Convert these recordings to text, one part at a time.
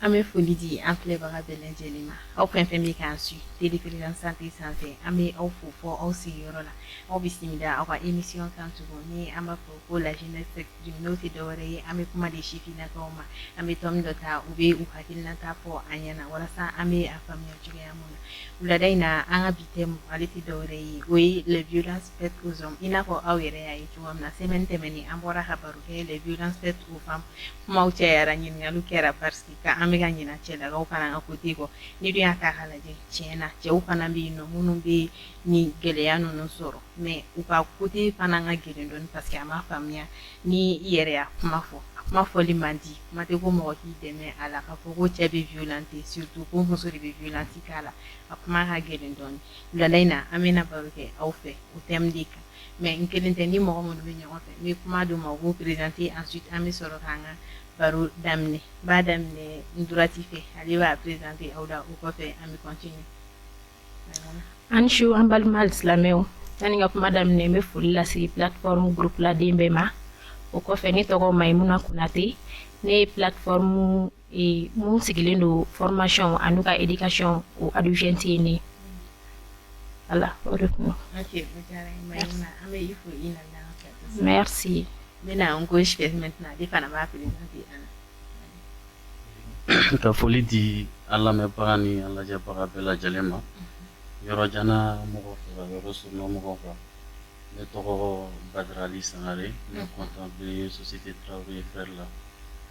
an bɛ foli di an filɛbaga bɛɛ lajɛlen ma aw fɛn fɛn bɛ k'an suit télévision santé sanfɛ an bɛ aw fo fɔ aw sigiyɔrɔ la aw bisimila aw ka émission kan tugun ni an b'a fɔ ko la jeunesse s'exprime n'o tɛ dɔwɛrɛ ye an bɛ kuma di sifinnakaw ma an bɛ thème dɔ ta u bɛ u hakilinata fɔ an ɲɛna walasa an bɛ a faamuya cogoya min na wulada in na an ka bi thème ale tɛ dɔwɛrɛ ye o ye les violences faites aux hommes i n'a fɔ aw yɛrɛ y'a ye cogoya min na semaine tɛmɛnen an bɔra ka baro kɛ les violences faites aux femmes kumaw cayara ɲininkaliw kɛra parce que ka an bɛ ka ɲina cɛlakaw fana ka côté kɔ n'i dun y'a ta k'a lajɛ tiɲɛ na cɛw fana bɛ yen nɔ minnu bɛ nin gɛlɛya ninnu sɔrɔ mais u ka côté fana ka gɛlɛn dɔɔni parce que a ma faamuya ni i yɛrɛ y'a kuma fɔ kuma fɔli man di kuma tɛ ko mɔgɔ k'i dɛmɛ a la k'a fɔ ko cɛ bɛ violenter surtout ko muso de bɛ violence k'a la a kuma ka gɛlɛn dɔɔni Wulada in na an bɛna baro kɛ aw fɛ o thème de kan mais n kelen tɛ ni mɔgɔ minnu bɛ ɲɔgɔn fɛ n bɛ kuma d'u ma u b'u présenter ensuite an bɛ sɔrɔ k'an ka baro daminɛ n b'a daminɛ n droite fɛ ale b'a présenter aw la o kɔfɛ an bɛ continuer. A ni su an balima alisilamɛw yani n ka kuma daminɛ n bɛ foli lase plateforme groupe laden bɛɛ ma o kɔfɛ ne tɔgɔ Mayimuna Konate ne ye plateforme minnu sigilen don fmasiyɔn ani ka ikasɔn o abuti yen de ala o de kuma an ko ka foli di an lamɛnbaga ni an lajɛbaga bɛɛ lajɛlen ma yɔrɔjan mɔgɔ yɔrɔ so mɔgɔ kan ne tɔgɔ barali sangare ne kɔntan bɛ sosi tɛ tarawele ye fɛrɛ la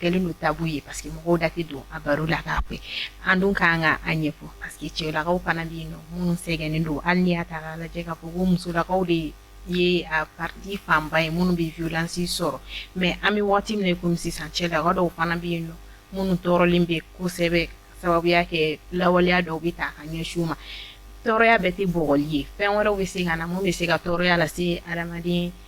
kɛlen don tabou ye parce que mɔgɔw da tɛ don a baro la k'a fɛ an dun kan ka a ɲɛfɔ parce que cɛlakaw fana bɛ yen nɔ minnu sɛgɛnnen don hali n'i y'a ta k'a lajɛ k'a fɔ ko musolakaw de ye ye a partie fanba ye minnu bɛ violence sɔrɔ mais an bɛ waati min na i komi sisan cɛlaka dɔw fana bɛ yen nɔ minnu tɔɔrɔlen bɛ kosɛbɛ sababuya kɛ lawaleya dɔw bɛ ta ka ɲɛsin u ma tɔɔrɔya bɛɛ tɛ bugɔli ye fɛn wɛrɛw bɛ se ka na min bɛ se ka tɔɔrɔya lase adamaden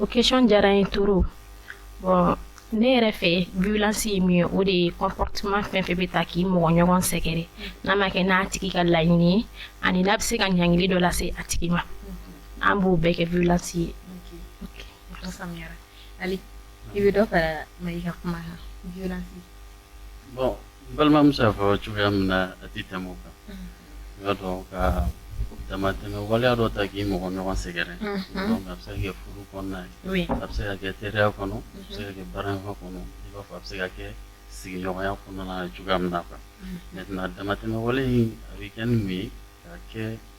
o question diyara n ye trop bon ne yɛrɛ fɛ violence ye min ye o de ye comportement fɛn fɛn bɛ ta k'i mɔgɔ ɲɔgɔn sɛgɛrɛ n'a ma kɛ n'a tigi ka laɲini ye ani n'a bɛ se ka ɲangili dɔ lase a tigi ma an b'o bɛɛ kɛ violence ye o faamuyara Ali i bɛ dɔ fara Mayi ka kuma bon n balimamuso y'a fɔ cogoya min na a tɛ tɛmɛ o kan, unhun, i b'a dɔn ka damatɛmɛ waleya dɔ ta k'i mɔgɔ ɲɔgɔn sɛgɛrɛ, unhun, donc a bɛ se ka kɛ furu kɔnɔna ye, oui, a bɛ se ka kɛ teriya kɔnɔ, a bɛ se ka kɛ baaraɲɔgɔnya kɔnɔ, i b'a fɔ a bɛ se ka kɛ sigiɲɔgɔnya kɔnɔna na cogoya min na quoi, maintenant damatɛmɛ wale in a bɛ kɛ ni mun ye ka kɛ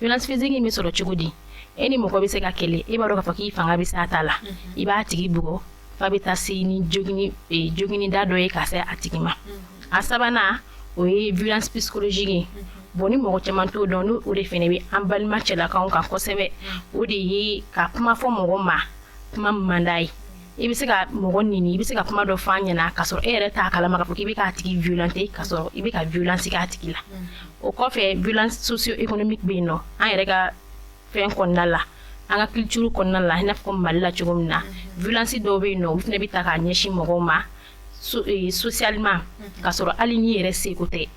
violence physique bɛ sɔrɔ cogo di e ni mɔgɔ bɛ se ka kɛlɛ e b'a dɔn k'a fɔ k'i fanga bɛ se a ta la mhm. i b'a tigi bugɔ f'a bɛ taa se ni jogini e, jogini da dɔ ye ka se a tigi ma mhm. a sabanan o ye violence psychologique ye mhm. bon ni mɔgɔ caman t'o dɔn n'o o de fɛnɛ bɛ an balima cɛlakaw kan kosɛbɛ o de ye ka kuma fɔ mɔgɔ ma kuma man d'a ye i bɛ se ka mɔgɔ neni i bɛ se ka kuma dɔ fɔ a ɲɛna ka sɔrɔ e yɛrɛ t'a kalama k'a fɔ k'i bɛ k'a tigi violenter ka sɔrɔ i bɛ ka violence k'a tigi la o kɔfɛ violence socio-économique bɛ yen nɔ an yɛrɛ ka fɛn kɔnɔna la an ka culture kɔnɔna la i n'a fɔ Mali la cogo min na violence dɔw bɛ yen nɔ olu fɛnɛ bɛ ta k'a ɲɛsin mɔgɔw ma so ee socialement ka sɔrɔ hali n'i yɛrɛ sago tɛ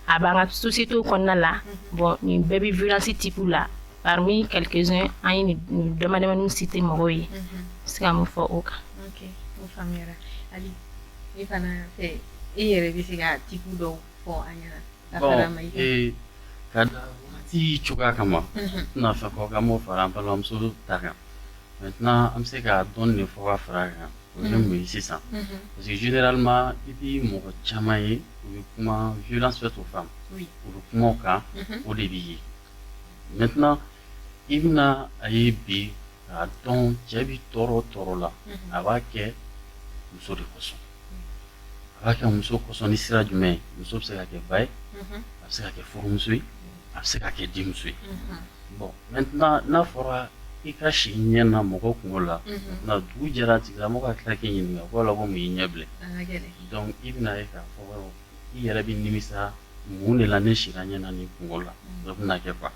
a b'an ka société kɔnɔna la bon nin bɛɛ bɛ violence type la parmi quelques uns an ye nin damadamanin cité mɔgɔw ye se ka mun fɔ o kan. ok o faamuyara Ali e fana fɛ e yɛrɛ bɛ se ka type dɔw fɔ an ɲɛna. bon ee ka da wagati cogoya kama n tɛna fɛ k'o kɛ an b'o fara an balimamuso ta kan maintenant an bɛ se ka dɔɔni de fɔ ka fara a kan. o ye mun ye sisan parce que généralement i bɛ mɔgɔ caman ye u bɛ kuma violence faite aux femmes u bɛ kuma o kan o de b'i ye maintenant i bɛna a ye bi k'a dɔn cɛ bɛ tɔɔrɔ o tɔɔrɔ la a b'a kɛ muso de kosɔn a b'a kɛ muso kosɔn ni sira jumɛn ye muso bɛ se ka kɛ ba ye a bɛ se ka kɛ furumuso ye a bɛ se ka kɛ denmuso ye bon maintenant n'a fɔra i ka si ɲɛna mɔgɔ kunko la ni dugu jɛra a tigilamɔgɔ ka tila k'i ɲininka ko la ko mun y'i ɲɛ bilen i bɛna ye k'a fɔ i yɛrɛ bɛ nimisa mun de la ne sira ɲɛna nin kunko la dɔ bɛna kɛ ban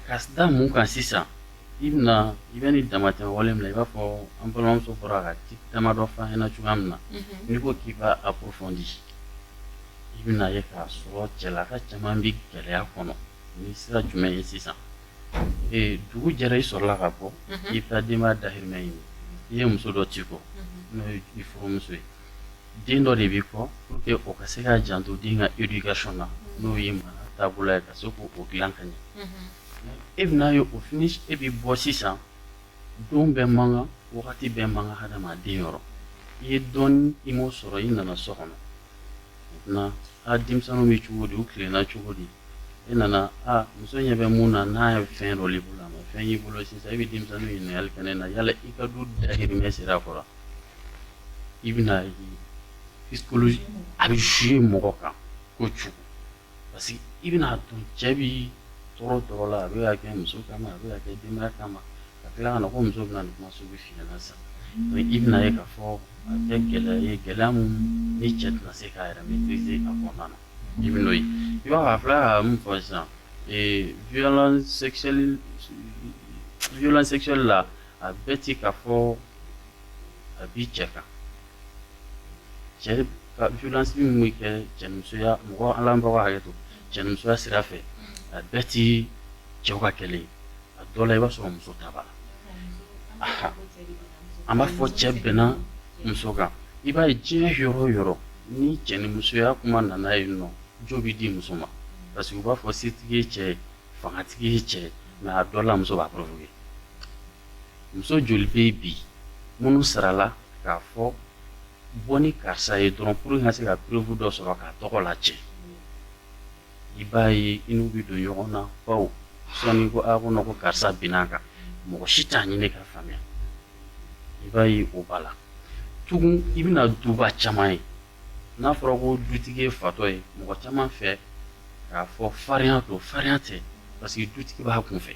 ka da mun kan sisan i i bɛ nin damatɛmɛ wale min na i b'a fɔ an balimamuso bɔra ka damadɔ fɔ an ɲɛna cogoya min na n'i ko k'i b'a approfondi i bɛna ye k'a sɔrɔ cɛlaka caman bɛ gɛlɛya kɔnɔ ni sira jumɛn ye sisan dugu jɛra i sɔrɔla ka bɔ i bɛ taa denbaya dahirimɛ ɲini i ye muso dɔ t'i kɔ n'o ye i furumuso ye den dɔ de b'i kɔ pour que o ka se ka janto den ka éducation na n'o ye mara taabolo ye ka se k'o dilan ka ɲɛ e bɛna ye o fini e bɛ bɔ sisan don bɛɛ man kan wagati bɛɛ man kan hadamaden yɔrɔ i ye dɔ ɲini i m'o sɔrɔ i nana so kɔnɔ maintenant a denmisɛnninw bɛ cogo di u tilenna cogo di e nana a muso ɲɛ bɛ mun na n'a ye fɛn dɔ y'i bolo a ma fɛn y'i bolo sisan e bɛ denmisɛnninw ɲininkali kɛ ne na yala i ka du dahirimɛ sera a kɔrɔ i bɛna ye psychologie a bɛ jouer mɔgɔ kan ko cogo parce que i bɛna a dɔn cɛ bɛ tɔɔrɔ tɔɔrɔ la a bɛ k'a kɛ muso kama a bɛ k'a kɛ denbaya kama ka tila ka na ko muso bɛna nin kuma sugu f'i ɲɛna sisan mais i bɛna a ye k'a fɔ a bɛ kɛ gɛlɛya ye gɛlɛya min ni cɛ tɛna se k'a yɛrɛ maîtriser a kɔnɔna na i bɛn'o ye i b'a ye a filɛ ka min fɔ sisan ee violence sexuelle violence sexuelle la a bɛɛ tɛ k'a fɔ a bɛ cɛ kan cɛ ka violence min bɛ kɛ cɛnimusoya mɔgɔ lamɛnbagaw hakɛ to cɛnimusoya sira fɛ a bɛɛ tɛ cɛw ka kɛlɛ ye a dɔ la i b'a sɔrɔ muso ta b'a la an b'a fɔ cɛ binna muso kan i b'a ye diɲɛ yɔrɔ o yɔrɔ ni cɛnimusoya kuma nana yen nɔ jo bɛ di muso ma parce que u b'a fɔ setigi ye cɛ fangatigi ye cɛ mais a dɔ la muso b'a provoquer muso joli bɛ yen bi minnu sarala k'a fɔ bɔ ni karisa ye dɔrɔn pour ka se ka preuve dɔ sɔrɔ k'a tɔgɔ lacɛn i b'a ye i n'u bɛ don ɲɔgɔn na baw sɔɔni ko non ko karisa binna a kan mɔgɔ si t'a ɲini ka faamuya i b'a ye o b'a la tugun i bɛna duba caman ye n'a fɔra ko dutigi ye fatɔ ye mɔgɔ caman fɛ k'a fɔ farinya don farinya tɛ parce que dutigi b'a kunfɛ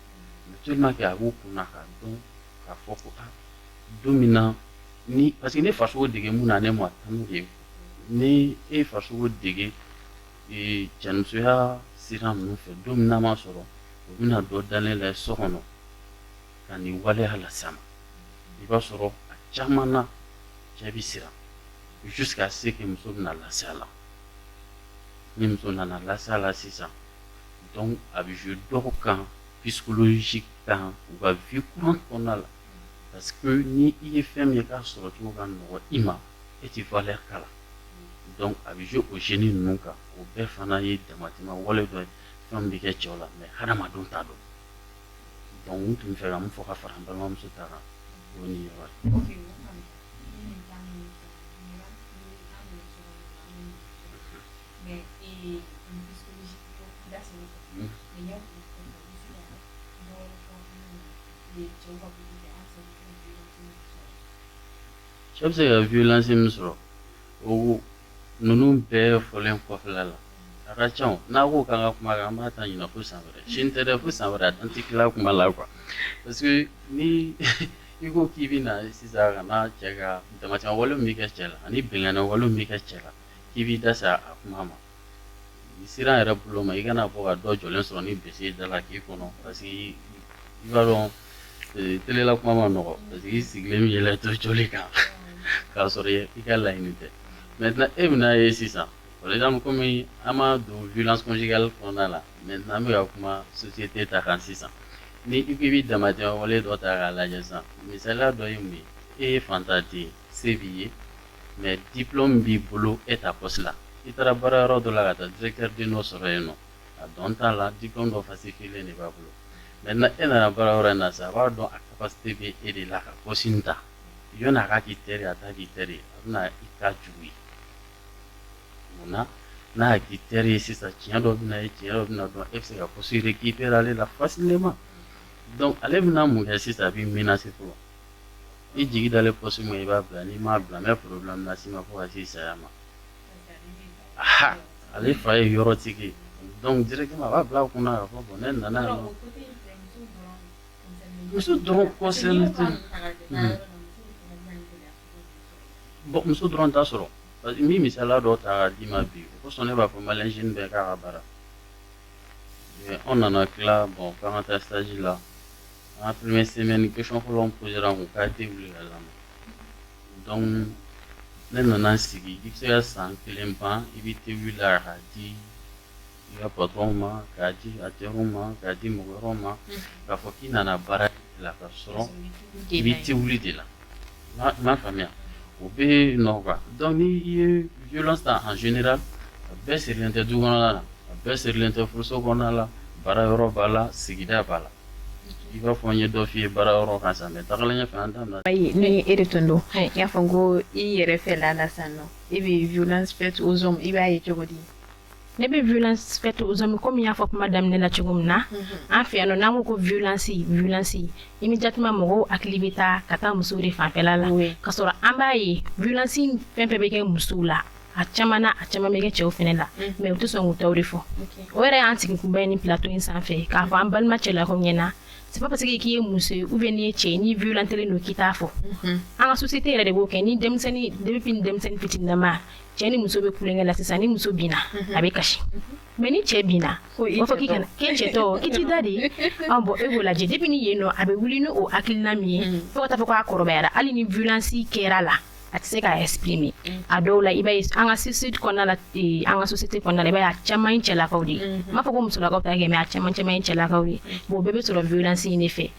mais tellement que a b'u kunna k'a dɔn k'a fɔ ko ah, don min na ni parce que ne farisogo dege mun na ne ma tanu de ni e farisogo dege e, cɛnimusoya sira ninnu fɛ don min n'a ma sɔrɔ o bɛna dɔ dalen la so kɔnɔ ka nin waleya las'a ma i b'a sɔrɔ a caman na cɛ bɛ siran jusqu'à ce que muso bɛna lase a la ni muso nana lase a la sisan donc a bɛ jouer dɔw kan psychologique kan u ka vie courante kɔnɔna la parce que ni i ye fɛn min ye k'a sɔrɔ cogo ka nɔgɔ i ma e tɛ valeur k'a la donc a bɛ jouer o jeune ninnu kan o bɛɛ fana ye damatɛmɛ wale dɔ ye fɛn min bɛ kɛ cɛw la mais hadamadenw t'a dɔn donc n tun bɛ fɛ ka nin fɔ ka fara n balimamuso ta kan o ni Cɛ bɛ se ka violence min sɔrɔ o ninnu bɛɛ fɔlen kɔfɛla la a ka ca n'a ko k'an ka kuma kan an b'a ta ɲina fo san wɛrɛ sini tɛ dɛ fo san wɛrɛ an tɛ tila kuma la quoi parce que ni i ko k'i bɛ na sisan ka na cɛ ka damatɛmɛ wale min bɛ kɛ cɛ la ani binkanni wale min bɛ kɛ cɛ la k'i b'i da se a kuma ma siran yɛrɛ bolo ma i kana bɔ ka dɔ jɔlen sɔrɔ ni bese da la k'i kɔnɔ parce que i b'a dɔn tele la kuma man nɔgɔ parce que i sigilen bɛ yɛlɛ to joli kan k'a sɔrɔ i ka laɲini tɛ maintenant e bɛna ye sisan par exemple kɔmi an ma don violence conjugale kɔnɔna la maintenant an bɛ ka kuma société ta kan sisan ni i ko i bɛ damatɛmɛ wale dɔ ta k'a lajɛ sisan misaliya dɔ ye mun ye e ye faantan den se b'i ye mais diplôme b'i bolo e ta poste la i taara baara yɔrɔ dɔ la ka taa directeur den dɔ sɔrɔ yen nɔ a dɔn t'a la diplôme dɔ falsifié de b'a bolo maintenant e nana baara yɔrɔ in na sisan a b'a dɔn a capacité bɛ e de la ka poste in ta yanni a ka k'i teri a t'a k'i teri a bɛna i ka jugu ye munna n'a k'i teri ye sisan tiɲɛ dɔ bɛna ye tiɲɛ dɔ bɛna dɔn e bɛ se ka poste récupérer ale la facilement donc ale bɛna mun kɛ sisan a b'i menacer fɔlɔ i jigi dalen poste min i b'a bila n'i m'a bila n bɛ problème las'i ma fo ka s'i saya ma, aa ale fa ye yɔrɔtigi ye donc directement a b'a bila a kunna k'a fɔ bon ne nana yan nɔ, muso dɔrɔn concerné tɛ, bon muso dɔrɔn t'a sɔrɔ parce que n bɛ misaliya dɔ ta k'a d'i ma bi o kosɔn ne b'a fɔ malien jeune bɛɛ k'a ka baara kɛ, an nana tila bon k'an ka taa stage la An ka première semaine question fɔlɔ min posera n kun ka te wuli ka lamɛn donc ne nana sigi i bɛ se ka san kelen ban i bɛ te wuli la k'a di i ka patron ma k'a di acteurs ma k'a di mɔgɔ wɛrɛw ma k'a fɔ k'i nana baara de la ka sɔrɔ i bɛ te wuli de la i m'a faamuya o bɛ nɔ quoi donc n'i ye violence ta en général a bɛɛ sirilen tɛ du kɔnɔna la a bɛɛ sirilen tɛ furuso kɔnɔna la baara yɔrɔ b'a la sigida b'a la i b'a fɔ n ye dɔ f'i ye baara yɔrɔ kan sisan mais tagalen ɲɛfɛ an da bɛna ayi ni e de tun don n y'a fɔ n ko i yɛrɛ fɛla la sisan nɔ e bɛ violence faite aux hommes i b'a ye cogo di ne bɛ violence faite aux hommes komi n y'a fɔ kuma daminɛ la cogo min na an fɛ yan nɔ n'an ko ko violence violence immédiatement mɔgɔw hakili bɛ taa ka taa musow de fanfɛla la Oui. ka sɔrɔ an b'a ye violence fɛn fɛn bɛ kɛ musow la a caman na a caman bɛ kɛ cɛw fɛnɛ la mais u tɛ sɔn k'u taw de fɔ o yɛrɛ y'an sigi kunba ye ni plateau in sanfɛ k'a fɔ an balima cɛlakaw ɲɛ na c'est pas parce que k'i ye muso ye ou bien n'i ye cɛ ye n'i violentelen don k'i t'a fɔ an ka société yɛrɛ de b'o kɛ ni denmisɛnnin depuis ni denmisɛnnin fitininama cɛ ni muso bɛ tulonkɛ la sisan ni muso binna a bɛ kasi mais ni cɛ binna o b'a fɔ k'i kana k'e cɛ tɔ k'i t'i da de bon e b'o lajɛ depuis ni yen nɔ a bɛ wuli ni o hakilina min ye fo ka taa fo k'a kɔrɔbayara hali ni violence kɛr'a la a tɛ se k'a exprimer mm. a dɔw la i b'a ye an ka société kɔnɔna la eh, an ka société kɔnɔna la i b'a ye a caman ye cɛlakaw de ye mm-hmm. n m'a fɔ ko musolakaw t'a kɛ mais a caman caman ye cɛlakaw ye mm. bon o bɛɛ bɛ sɔrɔ violence in de fɛ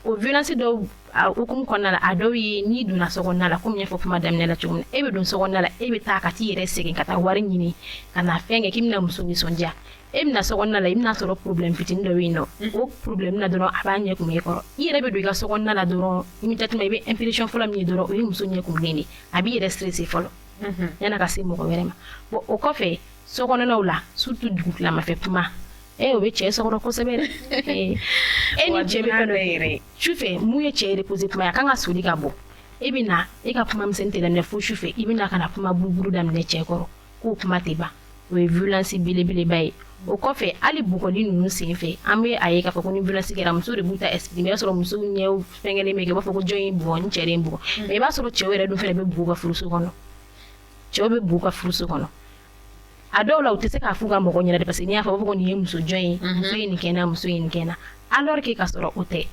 o violence dɔw a hukumu kɔnɔna la a dɔw ye n'i donna so kɔnɔna la komi n y'a fɔ kuma daminɛ la cogo min na e bɛ don so kɔnɔna la e bɛ taa ka t'i yɛrɛ sɛgɛn ka taa wari ɲini ka na fɛn kɛ k'i bɛna muso nisɔndiya e bɛna so kɔnɔna la i bɛna sɔrɔ problème fitinin dɔ bɛ yen nɔ o problème na dɔrɔn a b'a ɲɛ kumu e kɔrɔ i yɛrɛ bɛ don i ka so kɔnɔna la dɔrɔn immédiatement i bɛ impression fɔlɔ min ye dɔrɔn o ye muso ɲɛ kumunen de a b'i yɛrɛ stresser fɔlɔ yan'a ka se mɔgɔ wɛrɛ ma bon o kɔfɛ so kɔnɔnaw la surtout dugutilamafɛ kuma e o bɛ cɛ sɔrɔ kosɛbɛ e ni cɛ bɛ fɛn dɔ yɛrɛ sufɛ mun ye cɛ reposer kuma ye a kan ka soli ka bɔ e bɛ na e ka kuma misɛn tɛ daminɛ fo sufɛ i bɛ na ka na kuma buruburu daminɛ cɛ kɔrɔ k'o kuma tɛ ban o ye violence belebeleba ye o kɔfɛ hali bugɔli ninnu senfɛ an bɛ a ye k'a fɔ ko ni violence kɛra musow de b'u ta exprimer i b'a sɔrɔ musow ɲɛw fɛngɛlen bɛ kɛ u b'a fɔ ko jɔn y'e bugɔ n cɛ de ye n bugɔ mais i b'a sɔrɔ cɛw yɛrɛ dun fana bɛ bugɔ u ka furuso kɔnɔ cɛw bɛ bugɔ u ka furuso kɔnɔ a dɔw la u tɛ se k'a f'u ka mɔgɔ ɲɛna de parce que n'i y'a fɔ u b'a fɔ ko nin ye muso jɔn ye muso ye nin kɛ n na muso ye nin kɛ n na alors que ka sɔrɔ o tɛ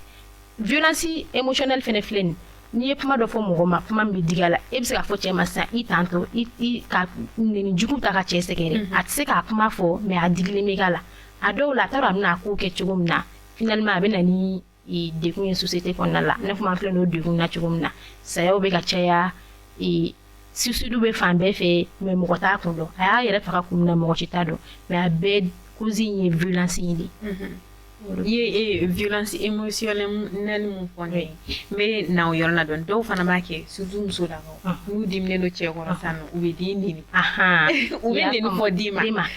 violence émotionnelle fɛnɛ filɛ nin n'i ye kuma dɔ fɔ mɔgɔ ma kuma min bɛ digi a la e bɛ se k'a fɔ cɛ ma sisan i tantɔ i ka nɛni jugu ta ka cɛ sɛgɛrɛ mhm. a tɛ se k'a kuma fɔ mais a digilen bɛ k'a la a dɔw la a t'a dɔn a bɛna a ko kɛ cogo min na finalement a bɛ na ni e, degun ye société kɔnɔna la ne kuma filɛ n'o degun na cogo min na sayaw bɛ ka caya e, suicide bɛ fan bɛɛ fɛ mais mɔgɔ t'a kun dɔn a y'a yɛrɛ faga kun min na mɔgɔ si t'a dɔn mais a bɛɛ cause in ye violence in de i ye violence émotionnelle min fɔ ne ye n bɛ na o yɔrɔ la dɔɔni dɔw fana b'a kɛ surtout musolakaw n'u diminen don cɛ kɔrɔ sisan nɔ u bɛ den nɛni u bɛ nɛni fɔ den ma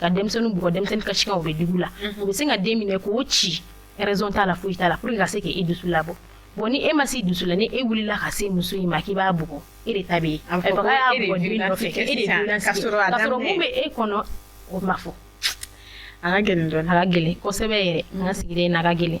ka denmisɛnnin bugɔ denmisɛnnin kasikan bɛ dugu la u bɛ se ka den minɛ k'o ci raison t'a la foyi t'a la pour que ka se k'e dusu labɔ bon ni e ma s'i dusu la ni e wulila ka se muso in ma k'i b'a bugɔ e de ta bɛ yen a bɛ fɔ k'a y'a bugɔ den nɔfɛ e de ye dunan sigi ka sɔrɔ mun bɛ e kɔnɔ o ma fɔ a ka gɛlɛn dɔɔni a ka gɛlɛn kosɛbɛ yɛrɛ an ka sigida in na a ka gɛlɛn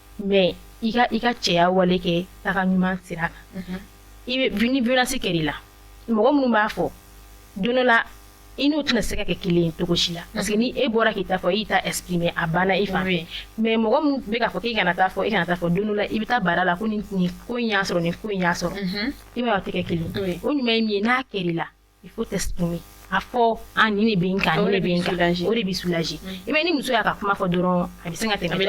mais i ka i ka cɛya wale kɛ taga ɲuman sira kan, unhun, i bɛ bi ni violence kɛra i la mɔgɔ minnu b'a fɔ don dɔ la i n'u tɛna se ka kɛ kelen ye cogo si la parce que ni e bɔra k'i ta fɔ i ta exprimer a banna i fan fɛ mais mɔgɔ min bɛ k'a fɔ k'i kana t'a fɔ i kana t'a fɔ don dɔ la i bɛ taa baara la ko nin nin ko in y'a sɔrɔ nin ko in y'a sɔrɔ i b'a ye a tɛ kɛ kelen ye o ɲuman ye min ye n'a kɛra i la il faut t'exprimer a fɔ a nin de bɛ n kan nin de bɛ n kan o de bɛ soulager i bɛ ni muso y'a ka kuma fɔ dɔrɔn a bɛ se ka tɛmɛ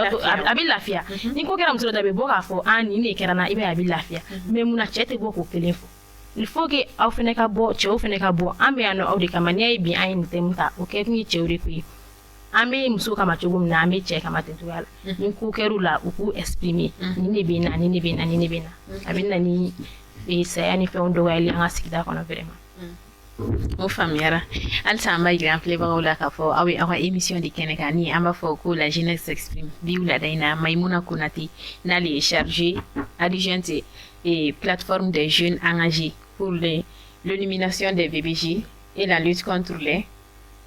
a bɛ lafiya ni ko kɛra muso dɔ la a bɛ bɔ k'a fɔ nin de kɛra n na i b'a ye a bɛ lafiya mais mun na cɛ tɛ bɔ k'o kelen fɔ il faut que aw fana ka bɔ cɛw fana ka bɔ an bɛ yan nɔ aw de kama n'i y'a ye bi an ye nin thème ta o kɛ kun ye cɛw de ko ye an bɛ muso kama cogo min na an bɛ cɛ kama ten cogoya la mhm. ni ko kɛra la u k'u esprime mhm. ni ne bɛ na ni ne bɛ na ni ne bɛ na a bɛ na ni e, saya ni fɛnw dɔgɔyali an ka sigida kɔnɔ vraiment mhm. o faamuyara halisa an b'a jira an filɛbagaw la k'a fɔ aw ye aw ka émission de kɛnɛ kan ni an b'a fɔ ko la jeunesse s'exprime bi wulada in na maimuna konate n'ale ye chargé adjointe et e, plateforme des jeunes engagés pour l'élimination des BBJ et la lutte contre les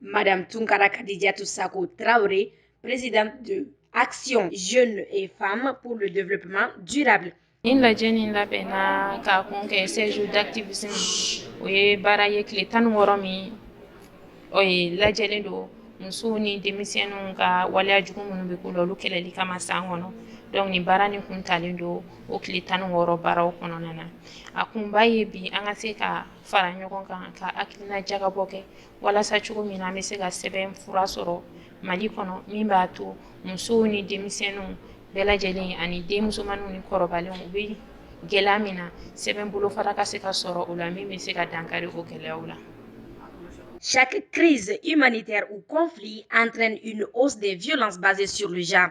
Madame Tunkara Kadidiatou Sako Traoré, présidente de Action Jeunes et Femmes pour le développement durable. Nin lajɛ nin labɛnna ka kun kɛ seize jours d'activisme o ye baara ye tile tan ni wɔɔrɔ min o ye lajɛlen don musow ni denmisɛnninw ka waleya jugu minnu bɛ k'u la olu kɛlɛli kama san kɔnɔ donc nin baara nin kun talen don o tile tan ni wɔɔrɔ baaraw kɔnɔna na a kunba ye bi an ka se ka fara ɲɔgɔn kan ka hakilina jagabɔ kɛ walasa cogo min na an bɛ se ka sɛbɛn fura sɔrɔ mali kɔnɔ min b'a to musow ni denmisɛnninw bɛɛ lajɛlen ani den musomanw ni kɔrɔbalenw u bɛ gɛlɛya min na sɛbɛn bolofara ka se ka sɔrɔ o la min bɛ se ka dankari o gɛlɛyaw la Chaque crise humanitaire ou conflit entraîne une hausse des violences basées sur le genre.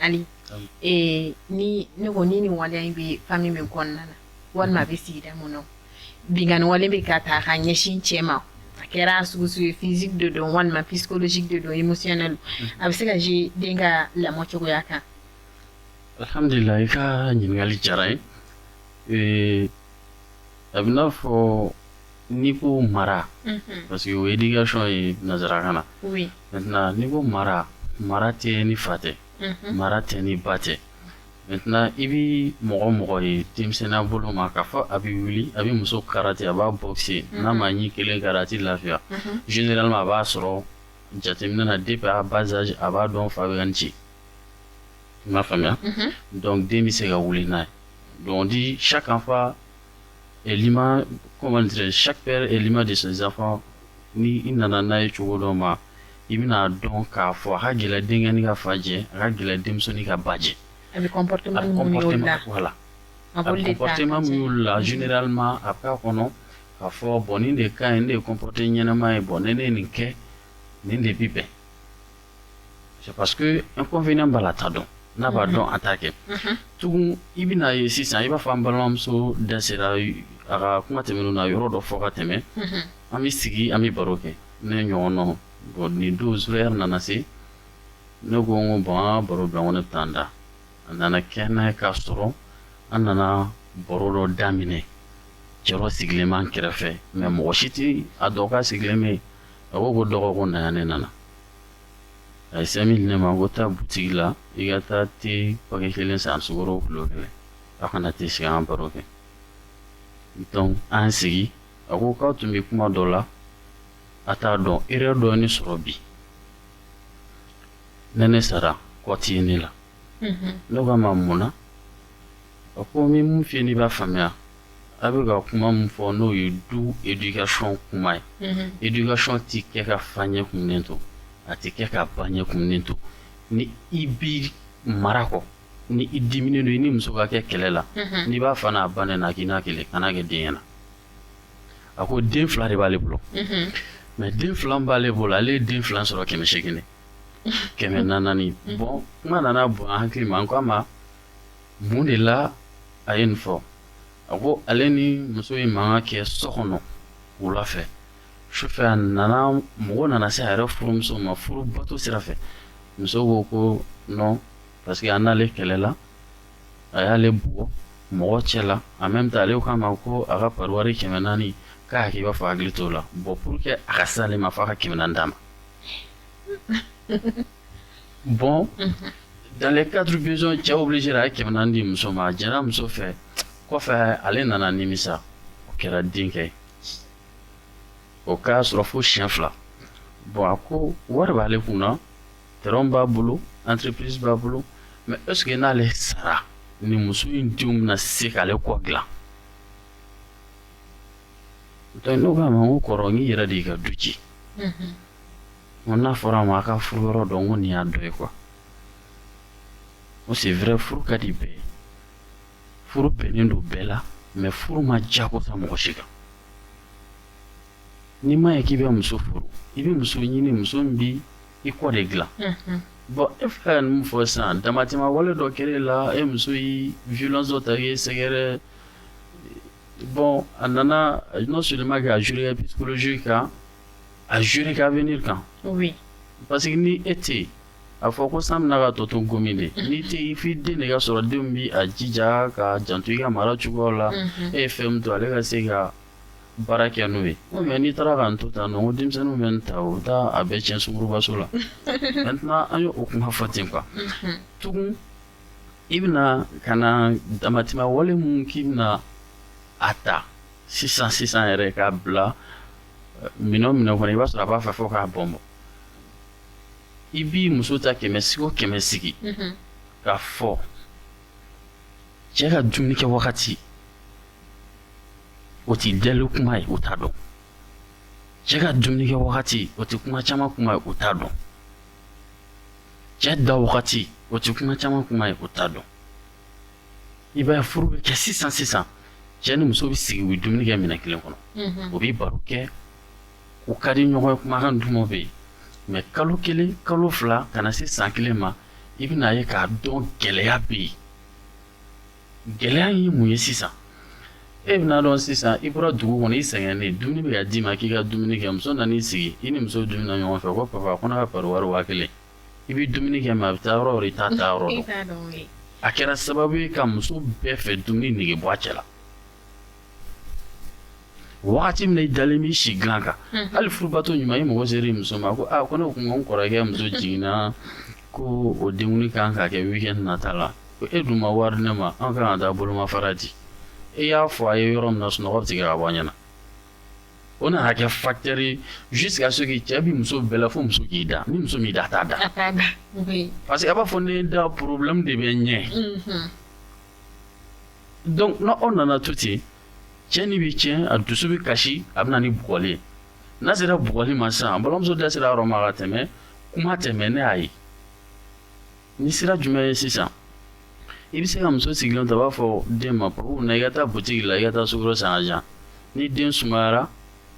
ali ee ni ne ko ni nin waleya in bɛ famille min kɔnɔna na walima a bɛ sigida min na binkanni wale bɛ ka taa ka ɲɛsin cɛ ma a kɛra sugu sugu ye physique de don walima psychologique de don émotionnel a bɛ se ka jouer den ka lamɔ cogoya kan alihamdulila i ka ɲininkali diyara n ye a bɛ n'a fɔ n'i ko mara parce que o ye éducation ye nansarakan na maintenant n'i ko mara mara tɛ ni fa tɛ mara tɛ ni ba tɛ maintenant i bɛ mɔgɔ mɔgɔ ye denmisɛnninya bolo ma k'a fɔ a bɛ wuli a bɛ muso karate a b'a boxer n'a ma ɲi kelen kari a tɛ lafiya généralement a b'a sɔrɔ jateminɛ na depuis à bas âge a b'a dɔn fa bɛ yan ci i m'a faamuya donc den bɛ se ka wuli n'a ye donc on dit chaque enfant est l'image, comment dire chaque père est l'image de ses enfants. Ni i nana n'a ye cogo dɔ ma i bɛna dɔn k'a fɔ a ka gɛlɛn denkɛnin ka fa jɛ a ka gɛlɛn denmusonin ka ba jɛ a bɛ comportement minnu y'olu la voilà a b'olu de ta comportement min y'olu la généralement a bɛ k'a kɔnɔ k'a fɔ bon nin de ka ɲi nin de ye comporter ɲɛnama ye bon ni ne ye nin kɛ nin de bi bɛn c'est parce que inconvénient b'a la t'a dɔn n'a b'a dɔn a t'a kɛ tugun i bɛna ye sisan i b'a fɔ an balimamuso da sera a ka kuma tɛmɛnenw na yɔrɔ dɔ fɔ ka tɛmɛ an bɛ sigi an bɛ baro kɛ ne ɲɔgɔn na bon nin don zéro heure nana se ne ko n ko bon an ka baro bila n ko ne bɛ taa n da a nana kɛ n'a ye k'a sɔrɔ an nana baro dɔ daminɛ cɛ dɔ sigilen b'an kɛrɛfɛ mais mɔgɔ si tɛ a dɔn k'a sigilen bɛ yen a ko ko dɔgɔ ko na yan ne nana a ye cinq mille di ne ma ko taa butigi la i ka taa te paquet kelen san sukaro kilo kelen a ka na te sigi an baro kɛ donc an sigi a ko k'aw tun bɛ kuma dɔ la a t'a dɔn erreur dɔ ye ne sɔrɔ bi ni ne sara kɔ tɛ ne la ne k'a ma mun na a ko n bɛ mun f'i ye n'i b'a faamuya a bɛ ka kuma min fɔ n'o ye du éducation kuma ye éducation tɛ kɛ ka fa ɲɛ kumunen to a tɛ kɛ ka ba ɲɛ kumunen to ni i b'i mara kɔ ni i diminen don i ni muso ka kɛ kɛlɛ la n'i b'a fa n'a ba nɛni a k'i n'a kɛlɛ kana kɛ den ɲɛna a ko den fila de b'ale bolo mais den fila min b'ale bolo ale ye den fila sɔrɔ kɛmɛ seegin de kɛmɛ naani bon kuma nana bon an hakili ma an ko a ma Mun de la a ye nin fɔ a ko ale ni muso ye mankan kɛ so kɔnɔ wula fɛ sufɛ a nana mago nana se a yɛrɛ furumuso ma furu bato sira fɛ muso ko ko non parce que a n'ale kɛlɛla a y'ale bugɔ mɔgɔ cɛ la en même temps ale k'a ma ko a ka pariwari kɛmɛ naani k'a k'i b'a fɔ hakili t'o la bon pour que a ka se ale ma fo a ka kɛmɛ naani d'a ma bon dans le cadre besoin cɛ obligé a ye kɛmɛ naani di muso ma a jɛra muso fɛ kɔfɛ ale nana nimisa o kɛra denkɛ ye o k'a sɔrɔ fo siɲɛ fila bon a ko wari b'ale kun na terrain b'a bolo entreprise b'a bolo mais est ce que n'ale sara ni muso in denw bɛna se k'ale kɔ dilan donc ne k'a ma n ko kɔrɔ n k'i yɛrɛ de y'i ka du ci N ko n'a fɔra a ma a ka furu yɔrɔ dɔn ko nin y'a dɔ ye quoi n ko c'est vrai furu ka di bɛɛ ye furu bɛnnen don bɛɛ la mais furu ma jagoya mɔgɔ si kan n'i m'a ye k'i bɛ muso furu i bɛ muso ɲini muso min b'i kɔ de dilan bon e filɛ ka nin min fɔ sisan damatɛmɛ wale dɔ kɛra e la e muso ye violence dɔ ta k'e sɛgɛrɛ bon a nana non seulement k'a jouer psychologie kan a jouer ka avenir kan parce que ni e tɛ yen a fɔ ko san bɛna ka tɔ to gomi de n'i tɛ yen f'i den de ka sɔrɔ denw bɛ a jija ka janto i ka mara cogoya la e ye fɛn min to ale ka se ka baara kɛ n'o ye mais n'i taara ka to ta ko denmisɛnninw bɛ n ta o taa a bɛɛ cɛn sungurunbaso la an ye o kuma fɔ ten quoi tugun i bɛna ka na damatɛmɛ wale mun k'i bɛna a ta sisan sisan yɛrɛ k'a bila minɛn minɛn kɔnɔ i b'a sɔrɔ a b'a fɛ fo k'a bɔn bon i b'i muso ta kɛmɛ sigi o kɛmɛ sigi k'a fɔ cɛ ka dumuni kɛ wagati o tɛ deli kuma ye u t'a dɔn cɛ ka dumuni kɛ wagati o tɛ kuma caman kuma ye u t'a dɔn cɛ da wagati o tɛ kuma caman kuma ye u t'a dɔn i b'a ye furu bɛ kɛ sisan sisan cɛ ni muso bɛ sigi u bɛ dumuni kɛ minɛn kelen kɔnɔ u bɛ baro kɛ u ka di ɲɔgɔn ye kumakan duman bɛ yen mais kalo kelen kalo fila ka na se san kelen ma i bɛna ye k'a dɔn gɛlɛya bɛ yen gɛlɛya ye mun ye sisan e bɛna dɔn sisan i bɔra dugu kɔnɔ i sɛgɛnnen dumuni bɛ ka d'i ma k'i ka dumuni kɛ muso nana i sigi i ni muso bɛ dumuni na ɲɔgɔn fɛ ko papa ko ne ka pari wari waa kelen i bɛ dumuni kɛ mais a bɛ taa yɔrɔ i t'a taa yɔrɔ dɔn a kɛra sababu ye ka muso bɛɛ fɛ dumuni nege bɔ cɛ la waati min i dalen b'i si dilan kan hali furubato ɲuman i mago sera muso ma ko ko ne tun n kɔrɔkɛ muso jiginna ko o denkundi kan ka kɛ weekend nata la ko e dun ma wari di ne ma an ka kan ka taa bolomafara di e y'a fɔ a ye yɔrɔ min na sunɔgɔ bɛ tigɛ ka bɔ ɲɛna O nana kɛ facteur ye jusqu'à ce que cɛ bɛ muso bɛɛ la fo muso k'i da, ni muso m'i da a t'a da, a t'a da, oui, parce que a b'a fɔ ne da problème de bɛ n ɲɛ, unhun, donc n'o nana to ten cɛ ni bɛ cɛn a dusu bɛ kasi a bɛ na ni bugɔli ye, n'a sera bugɔli ma sisan balimamuso da sera a yɔrɔ ma ka tɛmɛ kuma tɛ mais ne y'a ye Ni sira jumɛn ye sisan i bɛ se ka muso sigilen to a b'a fɔ den ma papa na i ka taa boutique la i ka taa sukaro san jan ni den sumayara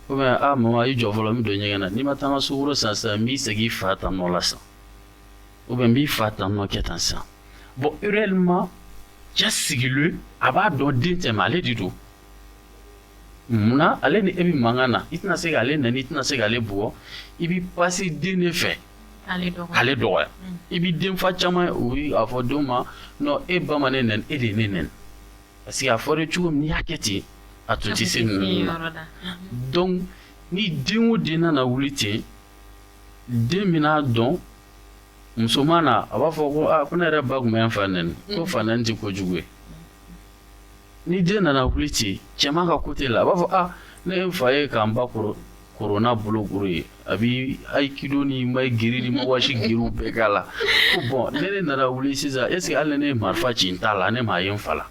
ou bien mama i jɔ fɔlɔ n bɛ don ɲɛgɛn na n'i ma taa n ka sukaro san sisan n b'i segin i fa tan nɔ la sisan ou bien n b'i fa tan nɔ kɛ tan sisan bon réellement cɛ sigilen a b'a dɔn den tɛ mais ale de don munna ale ni e bɛ mankan na i tɛna se k'ale nɛni i tɛna se ka ale bugɔ i bɛ passer den de fɛ k'ale dɔgɔya i bɛ denfa caman ye u b'a fɔ denw ma non e ba ma n nɛni e de ye ne nɛni parce que a fɔra cogo min n'i y'a kɛ ten a tun tɛ se ninnu na donc ni den o den nana wuli ten den bɛna a dɔn musoman na a b'a fɔ ko ko ne yɛrɛ ba tun bɛ n fa nɛni ko fa nɛni tɛ kojugu ye ni den nana wuli ten cɛman ka côté la a b'a fɔ a ah, ne ye n fa ye k'an ba kɔrɔ koron n'a bolokuru ye a bi aikido ni mae geri ni mawashi geriw bɛɛ k'a la ko bon ne ne nana wuli sisan est ce que hali ne ye marifa ci n ta la ne m'a ye n fa la